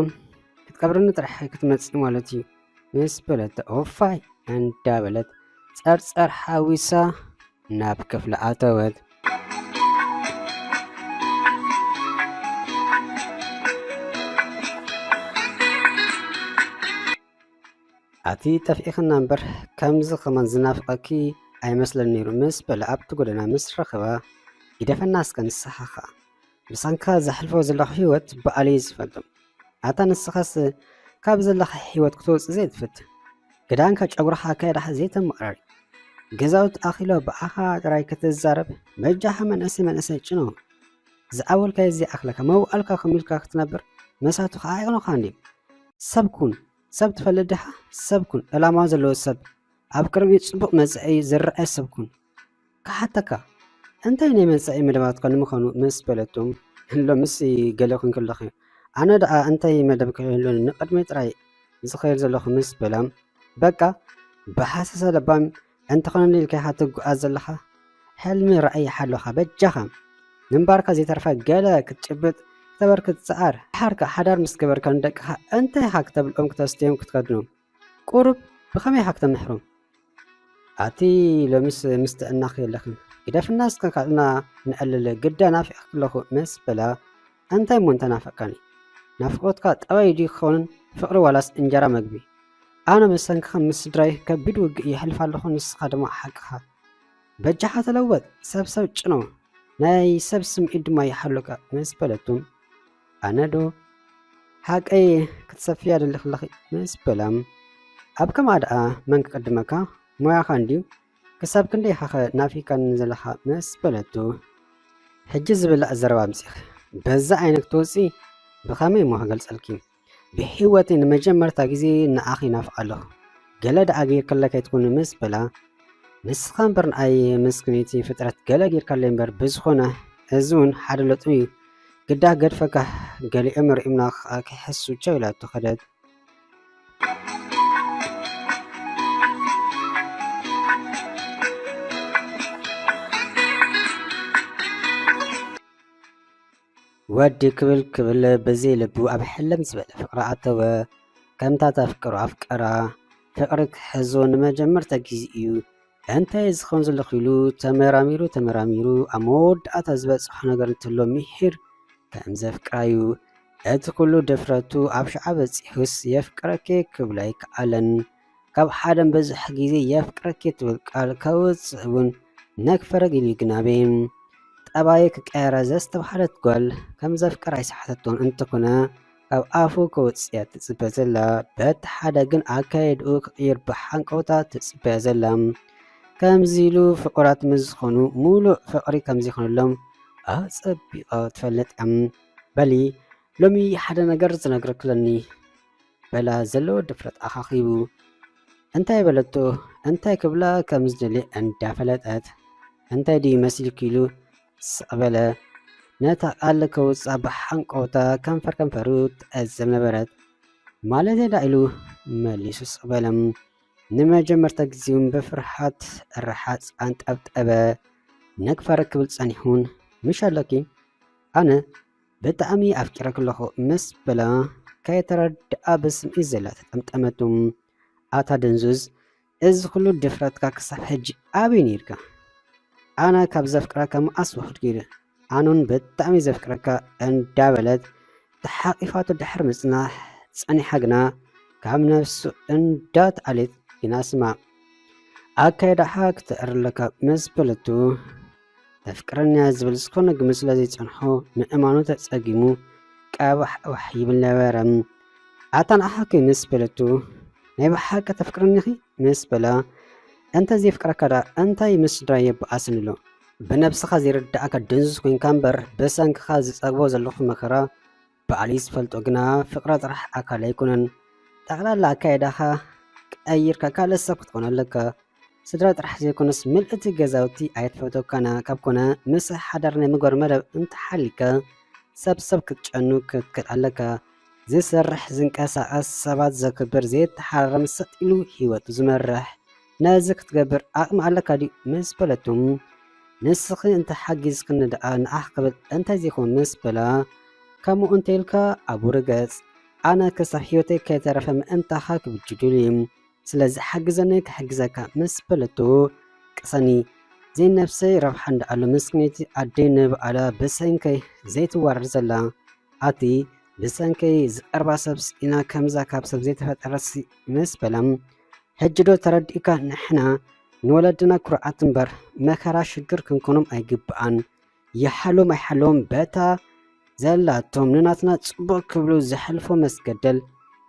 ክትቀብርኒ ጥራሕ ክትመፂ ማለት እዩ ምስ በለት ኦፋይ እንዳበለት ጸርጸር ሓዊሳ ናብ ክፍሊ ኣተወት። ኣቲ ጠፊእኽና እምበር ከምዚ ኸማን ዝናፍቐኪ ኣይመስለን ነይሩ ምስ በለ ኣብቲ ጎደና ምስ ረኸባ ይደፈና እስከ ንስሓኻ ብሰንካ ዘሕልፎ ዘለኹ ህይወት በኣል እዩ ዝፈልጦ ኣታ ንስኻስ ካብ ዘለኻ ህይወት ክትወፅእ ዘይትፈት ግዳንካ ጨጉራኻ ኣካየዳኻ ዘይተመቕረሪ ገዛውት ኣኺሎ ብኣኻ ጥራይ ክትዛረብ በጃኻ መንእሰይ መንእሰይ ጭኖ ዝዓወልካዮ ዘይኣኽለካ መውኣልካ ከምኡ ኢልካ ክትነብር መሳቱ ከዓ ኣይቕኖኻ እንዲ ሰብ ኩን ሰብ ትፈልጥ ዲኻ ሰብ ኩን ዕላማ ዘለዎ ሰብ ኣብ ቅድሚ ፅቡቕ መፅኢ ዝረአ ሰብ ኩን ክሓተካ እንታይ ናይ መጻኢ መደባትካ ንምዃኑ ምስ በለቱ ሎምስ ገለ ኩንኪ ኣለኺ ኣነ ደኣ እንታይ መደብ ክህሉኒ ንቕድመይ ጥራይ ዝኸይድ ዘለኹ ምስ በላ በቃ ብሓሰሰ ለባም እንተኾነ ኢልካ ኢኻ ትጓዓዝ ዘለኻ ሕልሚ ራእይ ሓሎኻ በጃኻ ምንባርካ ዘይተርፈ ገለ ክትጭብጥ ክተበርክት ጸዓር ሓርካ ሓዳር ምስ ገበርካ ንደቅኻ እንታይ ኢኻ ክተብልዖም ክተስትዮም ክትከድኖም ቁሩብ ብኸመይ ኢኻ ክተምሕሮም ኣቲ ሎምስ ምስ ጥዕናኺ የለኽን ግደፍና እስከ ካብና ንዕልል ግዳ ናፊቕኪ ኣለኹ መስ በላ እንታይ እሞ እንተናፈቕካኒ ናፍቖትካ ጠባይ ድዩ ክኸውንን ፍቕሪ ዋላስ እንጀራ መግቢ ኣነ ብሰንክኻ ምስ ስድራይ ከቢድ ውግእ የሕልፍ ኣለኹ ንስኻ ድማ ሓቅኻ በጃኻ ተለወጥ ሰብሰብ ጭኖ ናይ ሰብ ስምዒት ድማ ይሓሉካ መስ በለቱ ኣነዶ ሓቀይ ክትሰፍያ ደለኺ ኣለኺ ምስ በላ ኣብ ከምኣ ደኣ መን ክቅድመካ ሞያኻ እንድዩ ክሳብ ክንደይ ኢኻኸ ናፊካኒ ዘለኻ ምስ በለቱ ሕጂ ዝብላዕ ዘረባ ኣምፂኺ በዛ ዓይነት ክትወፂ ብኸመይ እሞ ክገልፀልኪ ብሂወተይ ንመጀመርታ ግዜ ንኣኺ ናፍቅ ኣለኹ ገለ ደኣ ጌርክለይ ከይትኩኒ ምስ በላ ንስኻ እምበር ንኣይ ምስክነይቲ ፍጥረት ገለ ጌርካለይ እምበር ብዝኾነ እዚ እውን ሓደ ለጡ እዩ ግዳ ገድፈካ ገሊኦም ርእዩና ክኣ ክሕሱ ቸው ኢላቶ ከደት። ወዲ ክብል ክብል ብዘይ ልቡ ኣብ ሕልም ዝበለ ፍቅሪ ኣተወ ከምታ ተፍቅሮ ኣፍቀራ ፍቅሪ ክሕዞ ንመጀመርታ ግዜ እዩ እንታይ እዚ ከም ዘሎ ክኢሉ ተመራሚሩ ተመራሚሩ ኣብ መወዳእታ ዝበጽሖ ነገር እንተሎ ምሒር ከም ዘፍቅራዩ እቲ ኩሉ ድፍረቱ ኣብ ሽዓ በጺሑስ የፍቅረኪ ክብሎ ኣይከኣለን ካብ ሓደን በዝሕ ግዜ የፍቅረኪ ትብል ቃል ከውጽእ እውን ነክፈረግ ኢሉ ይግናቤ ጠባዩ ክቀየራ ዘስተብሃለት ጓል ከም ዘፍቅራ ኣይሰሓተቶን እንተኾነ ካብ ኣፉ ከውጽያ ትጽበ ዘላ በቲ ሓደ ግን ኣካየድኡ ክቕይር ብሓንቀውታ ትጽበያ ዘላ ከምዚ ኢሉ ፍቕራት ምስ ዝኾኑ ሙሉእ ፍቕሪ ከምዘይኮነሎም ኣጸቢቓ ትፈልጥ እያ በሊ ሎሚ ሓደ ነገር ዝነግረኪ ኣለኒ በላ ዘለዎ ድፍረት ኣኻኺቡ እንታይ በለቶ እንታይ ክብላ ከም ዝደልየ እንዳፈለጠት እንታይ ድዩ መሲልኪ ኢሉ ስቕ በለ። ነታ ቃል ከውጽኣ ብሓንቀውታ ከንፈር ከንፈሩ ትዕዘብ ነበረት። ማለት ዳ ኢሉ መሊሱ ስቕ በለ። ንመጀመርታ ግዜውን ብፍርሓት ርሓጽ ኣንጠብጠበ። ነግፋር ክብል ጸኒሑን ምሽ ኣሎኪ ኣነ ብጣዕሚ ኣፍቂረኪ ኣለኹ ምስ በላ ከየተረድኣ ብስምዒት ዘላ ተጠምጠመቱ። ኣታ ደንዙዝ እዚ ኩሉ ድፍረትካ ክሳብ ሕጂ ኣበይ ኔርካ ኣነ ካብ ዘፍቅረካ መኣስ ወክድ ጌረ ኣነውን ብጣዕሚ ዘፍቅረካ እንዳበለት ተሓቂፋቶ ድሕሪ ምጽናሕ ጸኒሓ ግና ካብ ነፍሱ እንዳትኣልየት ግና ስማ ኣካይዳኻ ክተእርለካ ምስ በለቱ መፍቅረንያ ዝብል ዝኾነ ግምት ስለ ዘይጸንሖ ምእማኑ ተጸጊሙ ቀባሕባሕ ይብል ነበረ። ኣታ ንኣሓኪ ምስ በለቱ ናይ ብሓቂ ተፍቅርኒኺ ምስ በላ እንተ ዘይፍቅረካ ደኣ እንታይ ምስ ስድራ የበኣስን ኣሎ ብነብስኻ ዘይርዳእካ ድንዙዝ ኮንካ እምበር ብሰንክኻ ዝጸግቦ ዘለኹ መከራ ባዕለይ ዝፈልጦ ግና ፍቅረ ጥራሕ ኣካል ኣይኮነን ጠቅላላ ኣካይዳኻ ቀይርካ ካልእ ሰብ ክትኮን ኣለካ ስድራ ጥራሕ ዘይኮነስ ምልእቲ ገዛውቲ ኣይትፈተካና ካብ ኮነ ምሰ ሓዳር ናይ ምግባር መደብ እንተሓሊካ ሰብ ሰብ ክትጨኑ ክትክል ኣለካ ዝሰርሕ ዝንቀሳቀስ ሰባት ዘክብር ዘየተሓራርም ሰጥ ኢሉ ሂወቱ ዝመርሕ ነዚ ክትገብር ዓቕሚ ኣለካ ድዩ ምስ በለቶ፣ ንስኺ እንተ ሓጊዝክኒ ደኣ ንዓኽ ክብል እንተዘይኮን ምስ በላ፣ ከምኡ እንተኢልካ ኣብኡ ርገጽ፣ ኣነ ክሳብ ህይወተይ ከይተረፈ ምእንታኻ ክብጅዱሊ፣ ስለዚ ሓግዘኒ ክሕግዘካ ምስ በለቶ፣ ቅሰኒ ዘይነብሰይ ረብሓ እንዳኣሉ ምስኪነይቲ ኣደይ ንብኣላ ብሰንከይ ዘይትዋረድ ዘላ፣ ኣቲ ብሰንከይ ዝቀርባ ሰብ ስኢና ከምዛ ካብ ሰብ ዘይተፈጠረትሲ ምስ በላ፣ ሕጂ ዶ ተረዲእካ ንሕና ንወለድና ኩርዓት እምበር መከራ ሽግር ክንኮኖም ኣይግብኣን ይሓልዎም ኣይሓልዎም በታ ዘላቶም ንናትና ጽቡቅ ክብሉ ዘሕልፎ መስገደል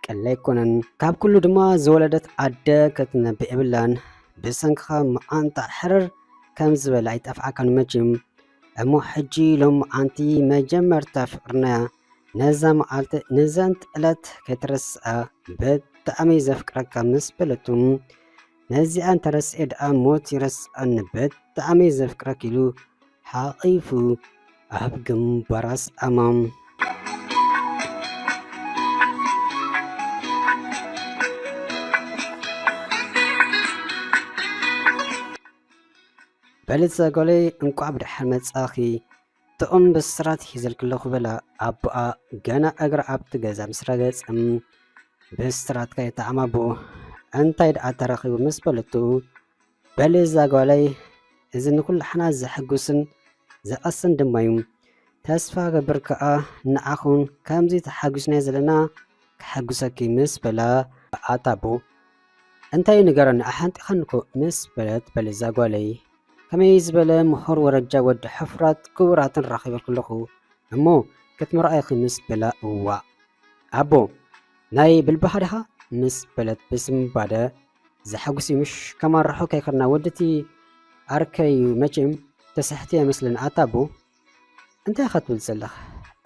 ቀሊል ኣይኮነን ካብ ኩሉ ድማ ዝወለደት ኣደ ከትነብዕ የብላን ብሰንክኻ መዓንጣ ሕርር ከም ዝበለ ኣይጠፍኣካን መቼም እሞ ሕጂ ሎሚ መዓንቲ መጀመርታ ፍቅርና ነዛ መዓልቲ ንዘንት ዕለት ከይትረስኣ ብጣዕሚ ዘፍቅረካ ምስ በለቱ ነዚኣ እንተረስኤ ደኣ ሞት ይረስኣኒ ብጣዕሚ ዘፍቅረክ ኢሉ ሓቒፉ ኣብ ግንባራ ስኣማ በልፀ ጎለይ እንቋዕ ብደሓን መፃኺ ጥዑም ብስራት ሒዘልኪ ኣለኹ በላ ኣቦኣ ገና እግራ ኣብቲ ገዛ ምስ ረገጸ ብስራት ከይተዓማቦ እንታይ ደኣ ተረኺቡ ምስ በለቱ በሊ እዛ ጓለይ እዚ ንኩላሕና ዘሐጉስን ዘቐስን ድማ እዩ ተስፋ ገብር ከኣ ንዓኹም ከምዚ ተሓጒስናዮ ዘለና ክሐጉሰኪ ምስ በላ ኣታቦ እንታይ ንገረኒ ኣሓንጢኻኒ እኮ ምስ በለት በሊ እዛ ጓለይ ከመይ ዝበለ ምሁር ወረጃ ወዲ ሕፉራት ክቡራትን ራኺበ ክለኹ እሞ ክትምርኣይክምስ በላ እዋእ ኣቦ ናይ ብልባኻ ዲኻ ምስ በለት ብስምባደ ዘሐጉስ ምሽ ከማርሖ ከይከድና ወድቲ ኣርከይ መቼም ተስሕትየ መስለኒ ኣታ ኣቦ እንታይ ኢኻ ትብል ዘለኻ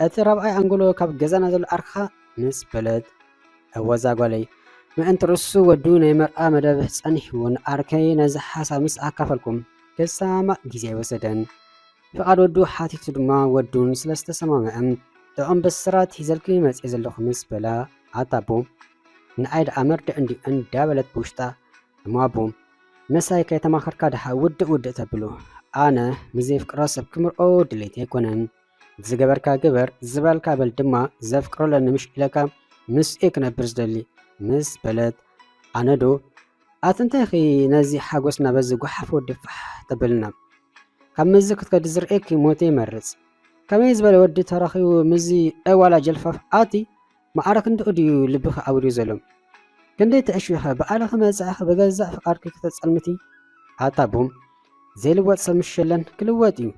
እቲ ራብዓይ ኣንጎሎ ካብ ገዛና ዘሎ ኣርክኻ ምስ በለት እወዛ ጓለይ ምእንቲ ርእሱ ወዱ ናይ መርኣ መደብ ጸኒሕዎ ንኣርከይ ነዚ ሓሳብ ምስ ኣካፈልኩም ክሰማማእ ግዜ ኣይወሰደን ፍቓድ ወዱ ሓቲቱ ድማ ወዱን ስለ ዝተሰማምዐም ጥዑም ብስራት ሂዘልኪ መጽኤ ዘለኹ ምስ በላ ኣታ ኣቦ ንኣይ ደኣ መርድዕ እንዲ እንዳበለት ብውሽጣ እሞ ኣቦ ምሳይ ከይተማኸርካ ድሓ ውድእ ውድእ ተብሉ ኣነ ንዘይፍቅሮ ሰብ ክምርኦ ድሌት ኣይኮነን ዝገበርካ ግበር ዝበልካ በል ድማ ዘፍቅሮ ኣለኒ ምሽ ኢለካ ምስ እየ ክነብር ዝደሊ ምስ በለት ኣነ ዶ ኣትንታይ ኺ ነዚ ሓጎስና በዚ ጓሓፍ ወዲ ፋሕ ተብልና ካብ ምዚ ክትከዲ ዝርእየኪ ሞት ይመርፅ ከመይ ዝበለ ወዲ ተረኺቡ ምዚ ዕዋላ ጀልፋፍ ኣቲ ማዕረ ክንድኡ ድዩ ልብኺ ዓውልዩ ዘሎ? ክንደይ ትዕሽዊኸ ብኣልኺ መጻኢኺ ብገዛእ ፍቃድኪ ክተጸልምቲ? ኣታ ቡም! ዘይልወጥ ሰብ ምሽ የለን፣ ክልወጥ እዩ፣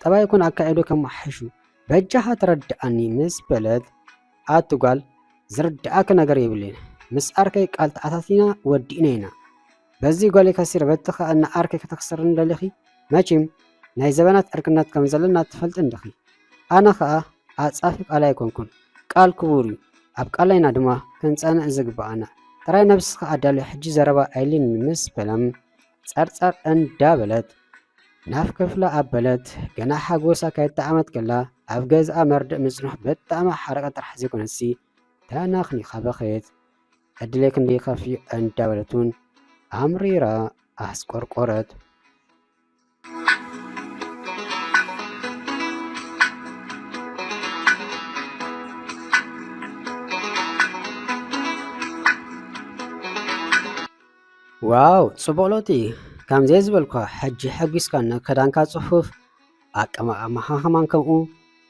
ጠባይ ይኹን ኣካይድኡ ከመሓይሹ በጃኻ ተረድኣኒ ምስ በለት ኣቲ ጓል ዝርድኣኪ ነገር የብለይን ምስ ኣርከይ ቃል ተኣታቲና ወዲእና ኢና በዚ ጎሊ ከሲረ በቲ ከኣ ንዓርኪ ከተኽስርኒ ደሊኺ መቺም ናይ ዘበናት ዕርክነት ከም ዘለና ትፈልጢ እንዲኺ ኣነ ከኣ ዓጻፊ ቃል ኣይኮንኩን ቃል ክቡር እዩ ኣብ ቃለይና ድማ ክንጸንዕ ዝግብኣና ጥራይ ነብስኺ ኣዳልዮ ሕጂ ዘረባ ኣይልኒ ምስ በለም ጸርጸር እንዳ በለት ናፍ ክፍላ ኣበለት ገና ሓጎሳ ከይጣዓመት ከላ ኣብ ገዝኣ መርድእ ምጽንሑ ብጣዕሚ ሓረቀ ጥራሕ ዘይኮነሲ ተናኽኒኻ በኸየት ዕድለይ ክንደይ ከፍዩ እንዳበለት እውን ኣምሪራ ኣስቆርቆረት። ዋው ጽቡቕ ለውጢ ከምዘይ ዝበልኳ ሕጂ ሕጒስካኒ ክዳንካ ጽፉፍ ኣቀማምሓኻማን ከምኡ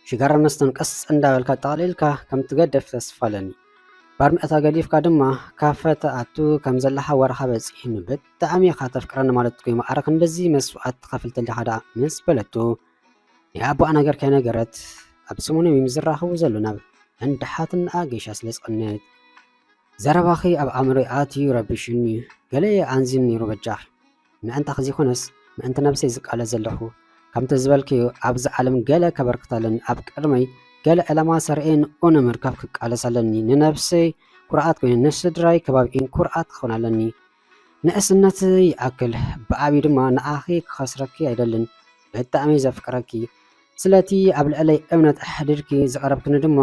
ሽጋራ መስተን ቀስ እንዳበልካ ጠቕሊልካ ከም ትገደፍ ተስፋ ኣለኒ ባርሚዕታ ገዲፍካ ድማ ካፈ ትኣቱ ከም ዘለኻ ወረኻ በፂሕኒ ብጣዕሚ ኢኻ ተፍቅረኒ ማለት ኮይኑ ኣረ ክንድዚ መስዋእት ትኸፍል ተሊኻ ደኣ ምስ በለቶ ናይ ኣቦኣ ነገር ከይነገረት ኣብ ሰሙኖም እዮም ዝራኸቡ ዘሎ ናብ እንዳ ሓትናኣ ገሻ ስለ ዝቐነየት ዘረባኺ ኣብ ኣእምሮይ ኣትዩ ረቢሽኒ ገለ ኣንዚን ነይሩ በጃኺ ምዕንታኺ ዘይኮነስ ምዕንቲ ነብሰይ ዝቃለስ ዘለኹ። ከምቲ ዝበልክዮ ኣብዚ ዓለም ገለ ከበርክት ኣለኒ፣ ኣብ ቅድመይ ገለ ዕላማ ሰርዔ ንኡ ንምርካብ ክቃለስ ኣለኒ፣ ንነብሰይ ኩርዓት ኮይኑ ንስድራይ ከባቢኤን ኩርዓት ክኾን ኣለኒ። ንእስነት ይኣክል ብዓብዩ ድማ ንዓኺ ክኸስረኪ ኣይደልን፣ ብጣዕሚ ዘፍቅረኪ ስለቲ ኣብ ልዕለይ እምነት ኣሕዲርኪ ዝቐረብክኒ ድማ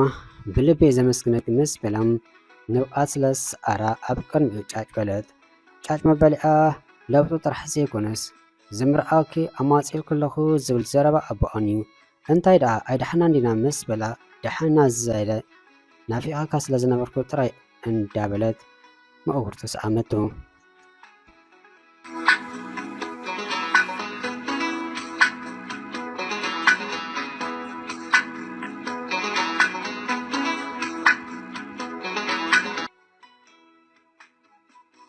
ብልበይ ዘመስግነኪ ምስ በላ ንብዓት ስለ ዝሰዓራ ኣብ ቅድሚኡ ጫጭ በለት። ጫጭ መበሊኣ ለውጢ ጥራሕ ዘይኮነስ ዝምርኣወኪ ኣማጺእልኪ ኣለኹ ዝብል ዘረባ ኣቦኣን እዩ። እንታይ ደኣ ኣይደሓናን ዲና ምስ በላ ደሓንና ዝዛይደ ናፊቐካ ስለ ዝነበርኩ ጥራይ እንዳበለት መእውርቱ ሰኣመቶ።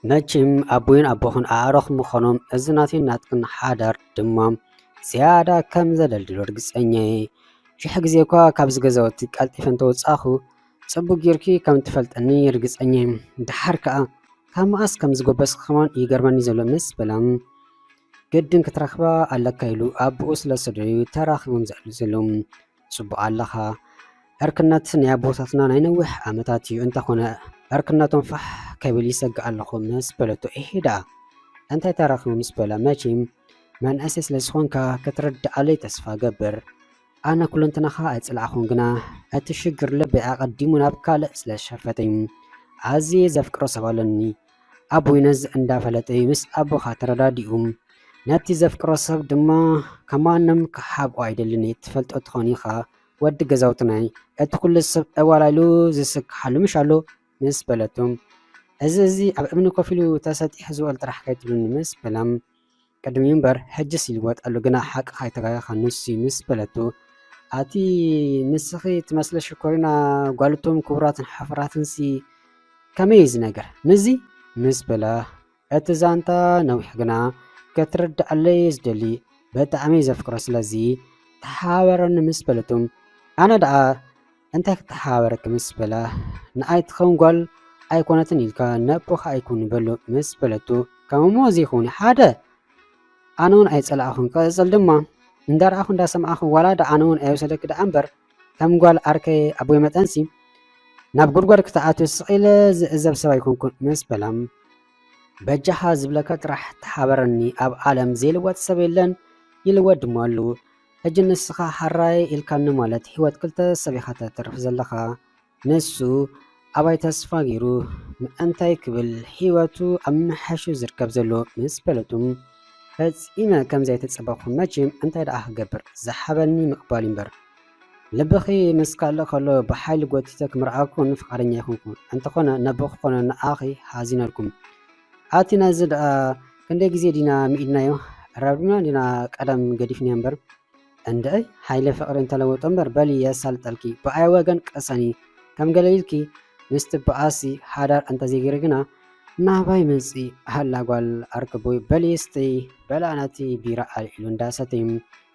መችም ኣቦይን ኣቦኽን ኣዕሩኽ ምኾኖም እዚ ናተይን ናትክን ሓዳር ድማ ዝያዳ ከም ዘደልድሎ ርግጸኛ እየ። ሽሕ ግዜ እኳ ካብዚ ገዛውቲ ቀልጢፈ እንተወጻኹ ጽቡቅ ጌርኪ ከም ትፈልጠኒ ርግጸኛ እየ። ድሓር ከኣ ካብ መኣስ ከም ዝጎበስኪ ከማን ይገርመኒ ዘሎ ምስ በላ ግድን ክትረኽባ ኣለካ ኢሉ ኣቦኡ ስለ ዝሰደደዩ ተራኺቦም ዘዕሉ ዘለዉ። ጽቡቕ ኣለኻ ዕርክነት ናይ ኣቦታትና ናይ ነዊሕ ዓመታት እዩ እንተኾነ ዕርክነቶም ፋሕ ከብል ይሰግእ ኣለኹ ምስ በለቶ እሄ ደኣ እንታይ ተራኺቡ ምስ በላ መቼም መንእሰይ ስለ ዝኾንካ ክትርድኣለይ ተስፋ ገብር ኣነ ኩለንትናኻ ኣይጽላዕኹን ግና እቲ ሽግር ልበይ ኣቐዲሙ ናብ ካልእ ስለ ዝሸፈተኝ ኣዝየ ዘፍቅሮ ሰብ ኣለኒ ኣቡይ ነዚ እንዳፈለጠ እዩ ምስ ኣቦኻ ተረዳዲኡ። ነቲ ዘፍቅሮ ሰብ ድማ ካብ ማንም ክሓብኦ ኣይደልን እየ ትፈልጦ ትኾን ኢኻ ወዲ ገዛውትናይ እቲ ኩሉ ሰብ ዕዋላ ኢሉ ዝስክሓሉ ምሽ ኣሎ ምስ በለቶ እዚ እዚ ኣብ እምኒ ኮፍ ኢሉ ተሰጢሑ ዝበሉ ጥራሕ ከይትብሉኒ ምስ በላ ቅድሚ እምበር ሕጅስ ይልወጥ ኣሎ ግና ሓቂ ካይተጋገኻ ንሱ'ዩ ምስ በለቶ ኣቲ ንስኺ ትመስሊ ሽኮሪና ጓል እቶም ክቡራትን ሓፍራትንሲ ከመይ እዩ ዝነገር ምስዚ ምስ በላ እቲ ዛንታ ነዊሕ ግና ክትርድኣለይ እየ ዝደሊ ብጣዕሚ ዘፍቅሮ ስለዚ ተሓባበረኒ ምስ በለቶም ኣነ ደኣ እንታይ ክተሓባበረኪ ምስ በላ፣ ንኣይ ትኸውን ጓል ኣይኮነትን ኢልካ ነቦኻ ኣይኩን በሎ ምስ በለቶ፣ ከም እሞ እዚ ይኹን ሓደ ኣነ ውን ኣይጸላእኹን ክቕጽል ድማ እንዳረኣኹ እንዳሰማዕኹ ዋላ ዳ ኣነ ውን ኣይወሰደኪ ደኣ እምበር ከም ጓል ኣርከይ ኣቦይ መጠንሲ ናብ ጉድጓድ ክትኣትዮ ስቂለ ዝዕዘብ ሰብ ኣይኮንኩን ምስ በላም በጃኻ ዝብለካ ጥራሕ ተሓበረኒ ኣብ ዓለም ዘይልወጥ ሰብ የለን ይልወጥ ድማ ኣሉ ሕጂ ንስኻ ሐራይ ኢልካኒ ማለት ሂወት ክልተ ሰብ ኢኻ ተትርፍ ዘለኻ ንሱ ኣባይ ተስፋ ጌሩ ምእንታይ ክብል ሂወቱ ኣብ ምምሕያሹ ዝርከብ ዘሎ ምስ ፈለጡ ፈጺመ ከምዘይተጸበኹ መቼም እንታይ ደኣ ክገብር ዝሓበኒ ምቅባል እዩ እምበር ልብኺ ምስ ካልእ ከሎ ብሓይሊ ጎቲተ ክምርዓኩን ፍቃደኛ ኣይኮንኩን እንተኾነ ነቦ ክኾኖ ንዓኺ ሓዚነልኩም ኣቲ ናይዚ ደኣ ክንደይ ግዜ ዲና ምኢድናዮ ኣራብዲብና ዲና ቀደም ገዲፍንዮ እምበር እንደይ ሃይለ ፍቅሪ እንተለወጦ እምበር በሊ የሳልጠልኪ ብኣይ ወገን ቅሰኒ ከም ገለ ኢልኪ ምስ ትበኣሲ ሓዳር እንተዘይገይሪ ግና ናባይ መፂ ሃላ ጓል ኣርክቦይ በሊ ስተይ በላ ነቲ ቢራ ኣልዒሉ እንዳሰተዩ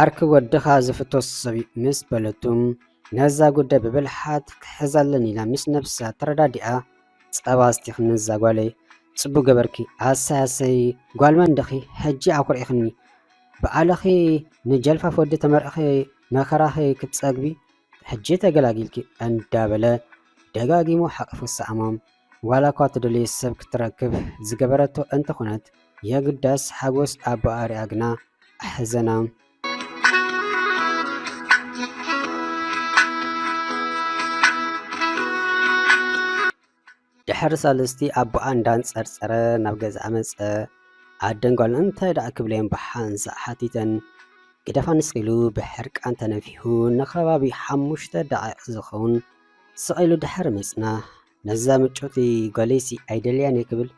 ዓርኪ ወድኻ ዝፍቶ ሰብ ምስ በለቱ ነዛ ጉዳይ ብብልሓት ክሕዛ ኣለኒ ኢላ ምስ ነብሳ ተረዳዲኣ ጸባ ኣስቲኺ ነዛ ጓለይ ጽቡቅ ገበርኪ ኣሰይ ኣሰይ ጓል መን ድኺ ሕጂ ኣኹሪዕኽኒ ብኣልኺ ንጀልፋፍ ወዲ ተመርዕኺ መከራኺ ክትጸግቢ ሕጂ ተገላጊልኪ እንዳበለ ደጋጊሙ ሓቂፉ ሰኣማ። ዋላ እኳ ትደልዮ ሰብ ክትረክብ ዝገበረቶ እንተኾነት የግዳስ ሓጎስ ኣቦኣ ሪኣ ግና ኣሕዘና። ድሕሪ ሳልስቲ ኣቦኣ እንዳንጸርጸረ ናብ ገዝኣ መጸ። ኣደን ጓልን እንታይ ደኣ ክብለዮም ብሓንሳእ ሓቲተን። ግደፋ ንስኺ ኢሉ ብሕርቃን ተነፊሑ ንከባቢ ሓሙሽተ ደቓይቕ ዝኸውን ስቕ ኢሉ ድሓር ምጽናሕ፣ ነዛ ምጭውቲ ጓለይሲ ኣይደልያን'የ ክብል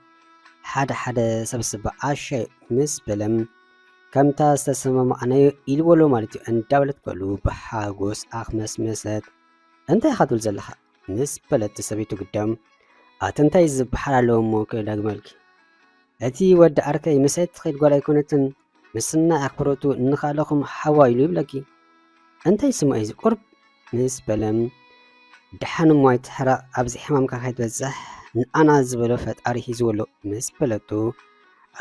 ሓደ ሓደ ሰብስ ብዓሻ'ዩ ምስ በለም፣ ከምታ ዝተሰማማዕናዮ ኢልዎ'ሎ ማለት'ዩ እንዳበለት በሉ ብሓጎስ ኣኽመስመሰት። እንታይ ኢኻ ትብል ዘለኻ? ምስ በለት ሰበይቱ ግዳም፣ ኣቲ እንታይ ዝበሓል ኣለዎ'ሞ ክደግመልኪ፣ እቲ ወዲ ዓርከይ ምስ'ቲ ትኸይድ ጓል ኣይኮነትን፣ ምስናይ ኣኽብሮቱ እንኻለኹም ሓዋይ ኢሉ ይብለኪ እንታይ ስሙ እዩ ቁርብ ምስ በለም ደሓን እሞ ኣይትሕረቕ ኣብዚ ሕማምካ ከይትበፅሕ ንኣና ዝበሎ ፈጣሪ ሂዝዎ ኣሎ ምስ በለቱ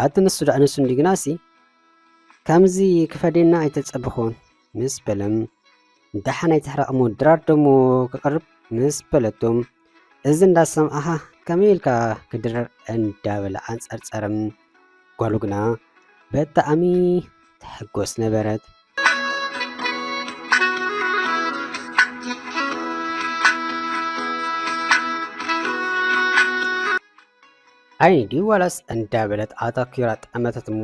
ኣቲ ንሱ ዳኣ ንሱ እንዲ ግናሲ ከምዚ ክፈዴና ኣይተጸብኹን ምስ በለም ደሓን ኣይትሕረቕ እሞ ድራር ደሞ ክቐርብ ምስ በለቶም እዚ እንዳሰምዓኻ ከመይ ኢልካ ክድርር እንዳበለ ኣንጸርጸረ። ጓሉ ግና በጣዕሚ ትሕጎስ ነበረት። ዓይኒ ድዩ ዋላስ እንዳበለት ኣታኪራ ጠመተት እሞ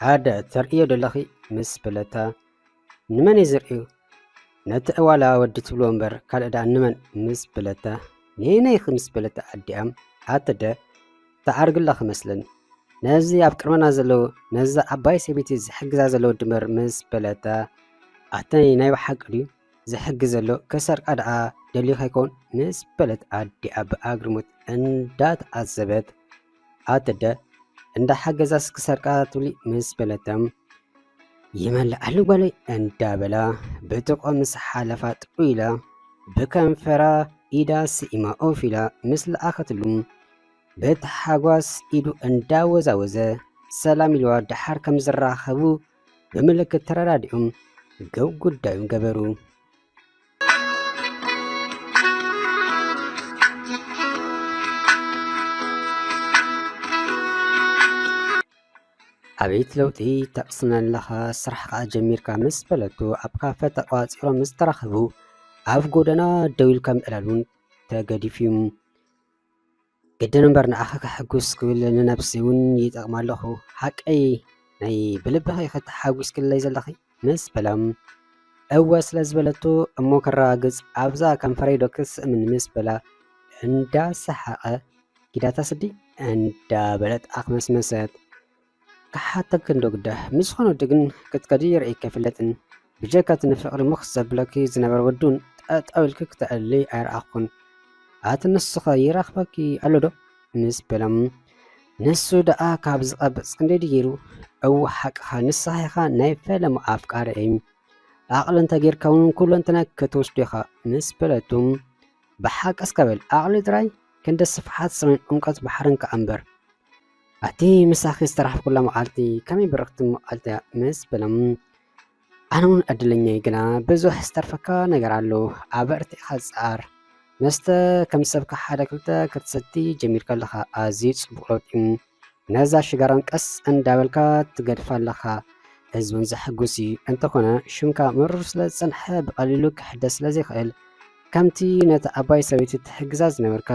ሓደ ተርእዮ ደለኺ ምስ በለታ ንመን እዩ ዝርእዩ ነቲ ዕዋላ ወዲ ትብሎ እምበር ካልእ ደኣ ንመን ምስ በለታ ነየነይኺ ምስ በለታ ኣዲኣም ኣተደ ተዓርግላ ክመስለን ነዚ ኣብ ቅድመና ዘለዉ ነዚ ዓባይ ሰበይቲ ዝሕግዛ ዘለዉ ድምር ምስ በለታ ኣተይ ናይ ብሓቂ ድዩ ዝሕግዝ ዘሎ ከሰርቃ ደኣ ደልዩ ከይኮን ምስ በለት ኣዲኣ ብኣግርሙት እንዳተዓዘበት ኣደ እንዳሓገዛስ ክሰርቃ ትብሊ ምስ በለተም ይመልኣሉ ጓለይ እንዳበላ ብጥቆ ምስ ሓለፋ ጥዑ ኢላ ብከንፈራ ኢዳ ስኢማ ኦፍ ኢላ ምስ ለኣኸትሉ ብታሓጓስ ኢዱ እንዳወዛወዘ ሰላም ኢልዋ ደሓር ከም ዝራኸቡ ብምልክት ተረዳዲኦም ገብ ጉዳዩን ገበሩ። ኣቤት ለውጢ ተቕስነለኻ ስራሕኻ ጀሚርካ ምስ በለቱ ኣብ ካፈ ተቋፂሮም ምስ ተራኸቡ ኣብ ጎደና ደው ኢልካ ምዕላሉን ተገዲፉ እዩ። ግድን እምበር ንኣኻ ከሐጉስ ክብል ንነብሲ እውን ይጠቕማ ኣለኹ ሓቀይ ናይ ብልብኺ ከተሓጒስክለይ ዘለኺ ምስ በላም እወ ስለ ዝበለቶ እሞ ከረጋግጽ ኣብዛ ከንፈረይ ዶ ክስእምን ምስ በላ እንዳሰሓቐ ጊዳታ ስዲ እንዳበለት ኣኽመስመሰት። ክሓተኪ እንዶ ግደ ምስ ዝኾነ ወዲ ግን ክትከዲ ርእይኪ ኣይፍለጥን ብጀካ እቲ ንፍቅሪ ምኽ ዘብለኪ ዝነበረ ወዲ ውን ጠጠው ኢልኪ ክተዕልሊ ኣይረኣኹን ኣቲ ንሱኸ ይረኽበኪ ኣሎ ዶ ምስ በሎም ንሱ ደኣ ካብ ዝቐብጽ ክንደይ ድዩ ገይሩ እው ሓቅኻ ንስኻ ኢኻ ናይ ፈለማ ኣፍቃሪ እይ ኣቕሊ እንተጌርካ ውን ኩለንትና ክትወስዶ ኢኻ ምስ በለቱ ብሓቂ እስከ በል ኣቕሊ ጥራይ ክንዲ ስፍሓት ሰማይን ዑምቀት ባሕርን ከኣ እምበር ኣቲ ምሳኺ ዝተራሕኩላ መዓልቲ ከመይ ብርኽቲ መዓልቲ ምስ በሎም ኣነ እውን ዕድለኛይ ግና ብዙሕ ዝተርፈካ ነገር ኣሎ ኣበርቲዕካ ዝፀኣር መስተ ከም ሰብካ ሓደ ክልተ ክትሰቲ ጀሚርካ ኣለካ ኣዝዩ ፅቡቅ ለውጢ ነዛ ሽጋራን ቀስ እንዳበልካ ትገድፋ ኣለካ ህዝብን ዘሐጉስ እዩ እንተኾነ ሽምካ ምሩር ስለ ዝፀንሐ ብቀሊሉ ክሕደስ ስለ ዘይክእል ከምቲ ነቲ ኣባይ ሰበይቲ ትሕግዛ ዝነበርካ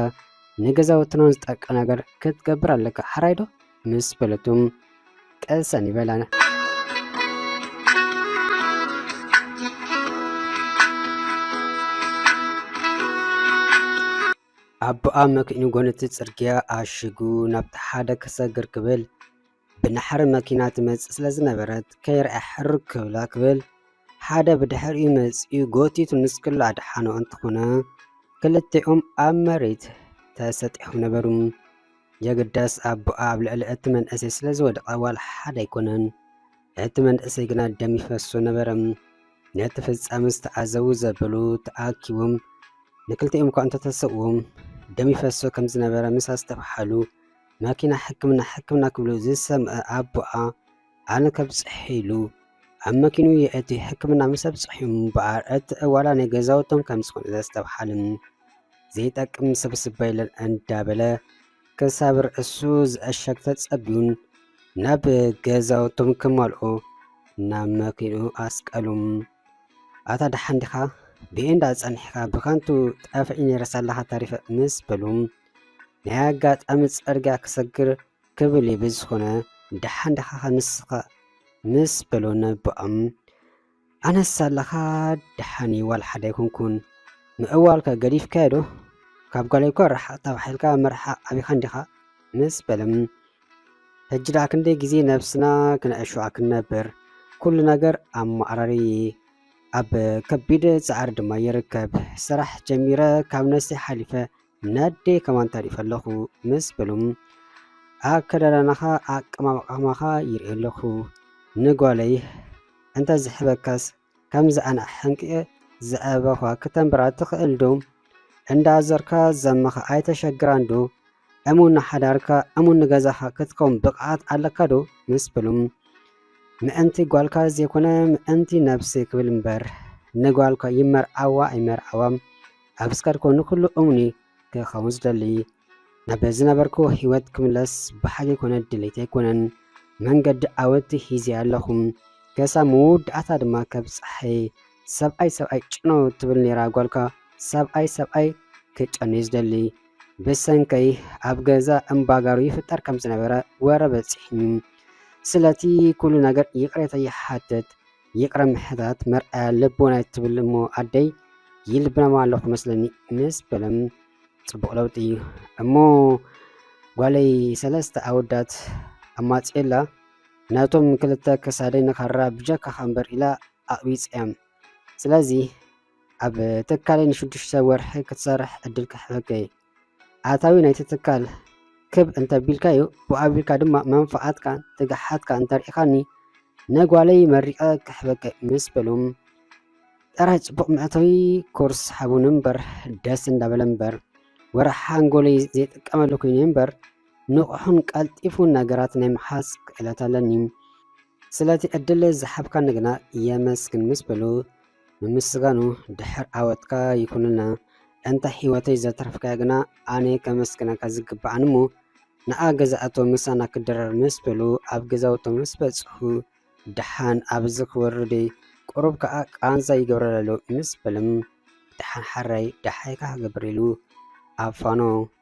ንገዛውትና ዝጠቅዕ ነገር ክትገብር ኣለካ ሓራይ ዶ ምስ በለቱ ቀሰን ይበላ ኣቦኣ መኪኑ ጎነቲ ጽርግያ ኣሽጉ ናብቲ ሓደ ክሰግር ክብል ብናሕሪ መኪና ትመጽእ ስለ ዝነበረት ከይርኣ ሕርግ ክብላ ክብል ሓደ ብድሕሪኡ መጺኡ ጎቲቱ ንስክላ ኣድሓኖ እንተኾነ ክልቲኦም ኣብ መሬት ተሰጢሖም ነበሩ። የግዳስ ኣቦኣ ኣብ ልዕሊ እቲ መንእሰይ ስለ ዝወደቐ ዋላ ሓደ ኣይኮነን። እቲ መንእሰይ ግና ደም ይፈሶ ነበረ። ነቲ ፍጻመ ዝተዓዘቡ ዘበሉ ተኣኪቦም ንክልቲኦም እኳ እንተተሰብዎም ደም ይፈሶ ከም ዝነበረ ምስ ኣስተብሓሉ ማኪና ሕክምና ሕክምና ክብሉ ዝሰምዐ ኣቦኣ ኣነ ከብፅሕ ኢሉ ኣብ መኪኑ የእቲ ሕክምና ምስ ኣብፅሑ እምበኣር እቲ ዕዋላ ናይ ገዛውቶም ከም ዝኾነ ዘስተብሓልን ዘይጠቅም ስብስብ በለን እንዳበለ ክሳብ ርእሱ ዝዕሸግ ተፀቢዩን ናብ ገዛውቶም ክመልኦ ናብ መኪኑ ኣስቀሉም ኣታ ደሓን ዲኻ ብኤንዳ ፀኒሕካ ብከንቱ ጠፍዒ ነይረስ ኣለኻ ተሪፈ ምስ በሉም ናይ ኣጋጣሚ ጸርግያ ክሰግር ክብል እዩ ብዝኾነ ደሓን ደኻ ንስኻ ምስ በሎ ነቦኦም ኣነስ ኣለኻ ደሓን እዩ ዋላ ሓደ ኣይኮንኩን ምዕዋልካ ገዲፍካዮ ዶ ካብ ጓለይ እኳ ርሓቕ ተባሒልካ ምርሓቕ ኣቢኻ እንዲኻ ምስ በለም ሕጂ ደኣ ክንደይ ግዜ ነብስና ክነዕሾ ክንነብር ኩሉ ነገር ኣብ ማዕራሪ ኣብ ከቢድ ጻዕሪ ድማ ይርከብ ስራሕ ጀሚረ ካብ ነፍሰይ ሓሊፈ ነዴ ከማን ታሪእ ፈለኹ ምስ በሉም ኣከዳዳናኻ ኣቀማምቃማኻ ይርኢ ኣለኹ ንጓለይ እንተ ዝሕበካስ ከምዚ ኣነ ሕንቅየ ዝዕበኻ ክተንብራ ትኽእል ዶ እንዳዘርካ ዘመኻ ኣይተሸግራን ዶ እሙን ንሓዳርካ እሙን ንገዛኻ ክትከውን ብቕዓት ኣለካ ዶ ምስ በሉም ምእንቲ ጓልካ ዘይኮነ ምእንቲ ነብሲ ክብል እምበር ንጓልካ ይመርዓዋ ኣይመርዓዋ ኣብ እስካድ ኮኑ ኩሉ እሙኒ ክኸውን ዝደሊ ናብ ዝነበርኩ ህይወት ክምለስ ብሓቂ ኮነ ድሌት ኣይኮነን መንገዲ ዓወት ሂዜ ኣለኹ ከሳ መወዳእታ ድማ ከብጽሐይ ሰብኣይ ሰብኣይ ጭኖ ትብል ነይራ ጓልካ ሰብኣይ ሰብኣይ ክጨኑዩ ዝደሊ ብሰንከይ ኣብ ገዛ እምባጋሩ ይፍጠር ከም ዝነበረ ወረ በጺሕኒ ስለቲ ኩሉ ነገር ይቕሬታ ይሓትት ይቕረ ምሕታት መርኣያ ልቦና ትብል እሞ ኣደይ ይልብናማ ኣለኹ መስለኒ ምስ በለም ፅቡቕ ለውጢ እዩ እሞ ጓለይ ሰለስተ ኣወዳት ኣማፅኤላ ነቶም ክልተ ክሳደይ ንካራ ብጀካኻ እምበር ኢላ ኣቕቢፀያም ስለዚ ኣብ ትካለይ ንሽዱሽተ ወርሒ ክትሰርሕ ዕድል ክሕበከ ኣታዊ ናይቲ ትካል ክብ እንተቢልካዩ ብኡ ኣቢልካ ድማ መንፍዓትካ ትግሓትካ እንተርኢኻኒ ነጓለይ መሪቐ ክሕበኪ ምስ በሉ ጥራይ ጽቡቕ መእተዊ ኮርስ ሓቡን እምበር ደስ እንዳበለ እምበር ወርሒ ሓንጎለይ ዘይጥቀመሉ ኮይኑ እምበር ንቑሑን ቀልጢፉን ነገራት ናይ ምሓዝ ክእለት ኣለኒ ስለቲ ዕድል ዝሓብካኒ ግና የመስግን ምስ በሉ ምምስጋኑ ድሕር ዓወትካ ይኩንልና ኣንታ ሂወተይ ዘትረፍካያ ግና ኣነ ከመስግነካ ዝግብኣኒ እሞ ንኣ ገዛኣቶ ምሳና ክድረር ምስ በሉ ኣብ ገዛውቶ ምስ በጽሑ ድሓን ኣብዚ ክወርደይ ቁሩብ ከኣ ቃንዛ ይገብረለሎ ምስ በልም ድሓን ሓራይ ድሓይካ ክገብር ኢሉ ኣፋኖ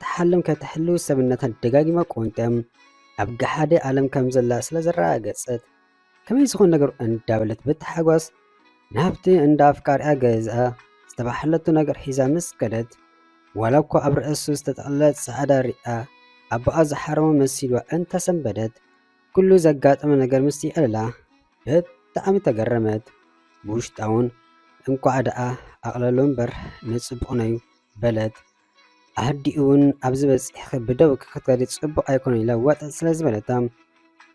ትሓልም ከተሕልው ሰብነታ ደጋጊማ ቆንጥም ኣብ ገሓደ ዓለም ከም ዘላ ስለ ዘረጋገጸት ከመይ ዝኾን ነገሩ እንዳበለት ብታሓጓስ ናብቲ እንዳ ኣፍቃሪኣ ገዛ ዝተባሕለቱ ነገር ሒዛ ምስ ከደት ዋላ እኳ ኣብ ርእሱ ዝተጠቕለለ ጻዕዳ ሪኣ ኣቦኣ ዝሓረሞ መሲልዋ እንተሰንበደት ኩሉ ዘጋጠመ ነገር ምስ ይዕልላ ብጣዕሚ ተገረመት። ብውሽጣውን እንኳዕ ደኣ ኣቕለሎ እምበር ንጽቡቕ ነዩ በለት። ኣዲኡውን ኣብዚ በፂሕኺ ብደው ክትከዲ ፅቡቕ ኣይኮነን ኢላ ዋጥ ስለ ዝበለታ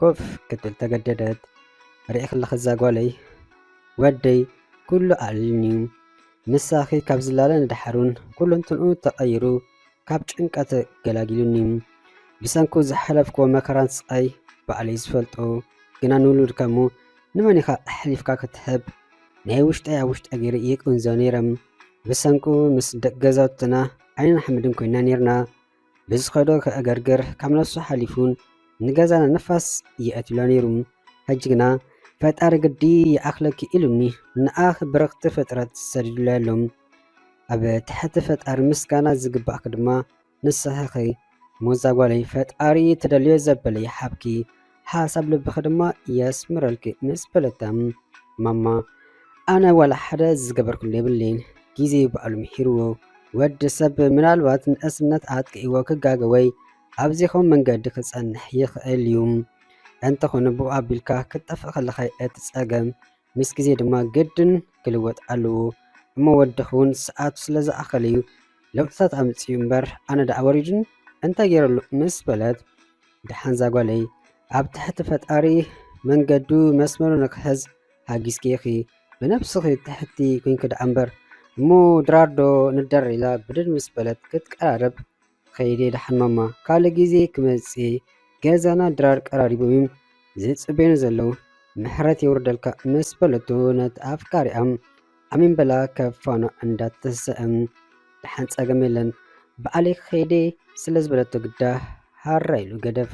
ኮፍ ክትብል ተገደደት። ርኢኽለኺ እዛ ጓለይ ወደይ ኩሉ ኣዕሊሉኒ እዩ ምሳኺ ካብ ዝላለ ንደሓሩን ኩለንትንኡ ተቐይሩ ካብ ጭንቀት ገላጊሉኒ እዩ ብሰንኩ ዝሓለፍክዎ መከራን ስቓይ ባዕለይ ዝፈልጦ ግና ንውሉድካ እሞ ንመን ኢኻ ኣሕሊፍካ ክትህብ ናይ ውሽጠይ ኣብ ውሽጠ ገይረ ይቅንዞ ነይረ ብሰንኩ ምስ ደቂ ገዛውትና ዓይንን ሓመድን ኮይና ነርና ብዝኸዶ ከእገርግር ካብ ነሱ ሓሊፉን ንገዛና ንፋስ ይኣትሎ ነይሩ ሕጂ ግና ፈጣሪ ግዲ ይኣኽለኪ ኢሉኒ ንኣኽ ብርኽቲ ፍጥረት ሰዲዱለይ ኣሎ ኣብ ትሕቲ ፈጣሪ ምስጋና ዝግባእኪ ድማ ንስኺ ሞዛ ጓለይ ፈጣሪ ትደልዮ ዘበለ ይሓብኪ ሓሳብ ልብኺ ድማ የስምረልኪ ምስ በለታ ማማ ኣነ ዋላ ሓደ ዝገበርክሉ የብለይን ግዜ በዓሉ ምሒርዎ ወዲ ሰብ ምናልባት ንእስነት ኣጥቂእዎ ክጋገ ወይ ኣብዚኹም መንገዲ ክጸንሕ ይኽእል እዩ እንተኾነ ብኡ ኣቢልካ ክትጠፍእ ከለኻ እቲ ጸገም ምስ ግዜ ድማ ግድን ክልወጥ ኣለዎ እሞ ወድኺ እውን ሰዓቱ ስለ ዝኣኸለ እዩ ለውጥታት ኣምፅኡ እምበር ኣነ ደኣ ወሪዱን እንታይ ገይረሉ ምስ በለት ደሓን ዛጓለይ ኣብ ትሕቲ ፈጣሪ መንገዱ መስመሩ ንክሕዝ ሃጊዝኪ ኢኺ ብነብስኺ ትሕቲ ኮንኪ ደኣ እምበር እሞ ድራርዶ ንደር ኢላ ብድድ ምስ በለት ክትቀራረብ ከይዴ ደሓን ማማ ካልእ ግዜ ክመጽእ እየ ገዛና ድራር ቀራሪቦም እዮም ዝጽበዩና ዘለዉ ምሕረት የውርደልካ ምስ በለቶ ነቲ ኣፍቃሪኣ ኣሜን በላ ካብ ፋና እንዳተሰእም ደሓን ጸገም የለን ብዓለይ ከይዴ ስለ ዝበለቶ ግዳ ሃራ ኢሉ ገደፋ።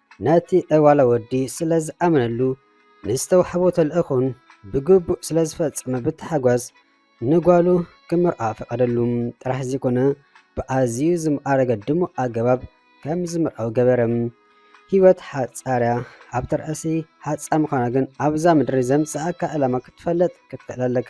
ነቲ ዕዋላ ወዲ ስለ ዝኣመነሉ ንዝተዋሕቦ ተልእኾን ብግቡእ ስለ ዝፈጸመ ብታሕጓስ ንጓሉ ክምርዓ ፈቐደሉ ጥራሕ ዘይኮነ ብኣዝዩ ዝማዕረገ ድሙቕ ኣገባብ ከም ዝምርዓው ገበረ። ህይወት ሓጻርያ ኣብ ተርእሲ ሓጻር ምዃና ግን ኣብዛ ምድሪ ዘምጽኣካ ዕላማ ክትፈልጥ ክትክእል ኣለካ።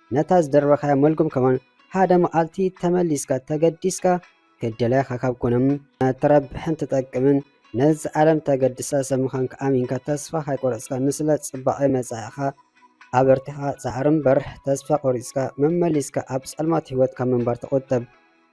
ነታ ዝደርበኻያ መልጉም ከማን ሓደ መዓልቲ ተመሊስካ ተገዲስካ ክደለያኻ ካብ ኮነም ተረብሕን ትጠቅምን ነዚ ዓለም ተገድሳ ሰብ ምዃንካ ኣሚንካ ተስፋ ካይቆረፅካ ንስለ ፅባቐ መፃኢኻ ኣበርቲኻ ፃዕሪ እምበር ተስፋ ቆሪፅካ መመሊስካ ኣብ ፀልማት ህይወት ካብ ምንባር ተቖጠብ።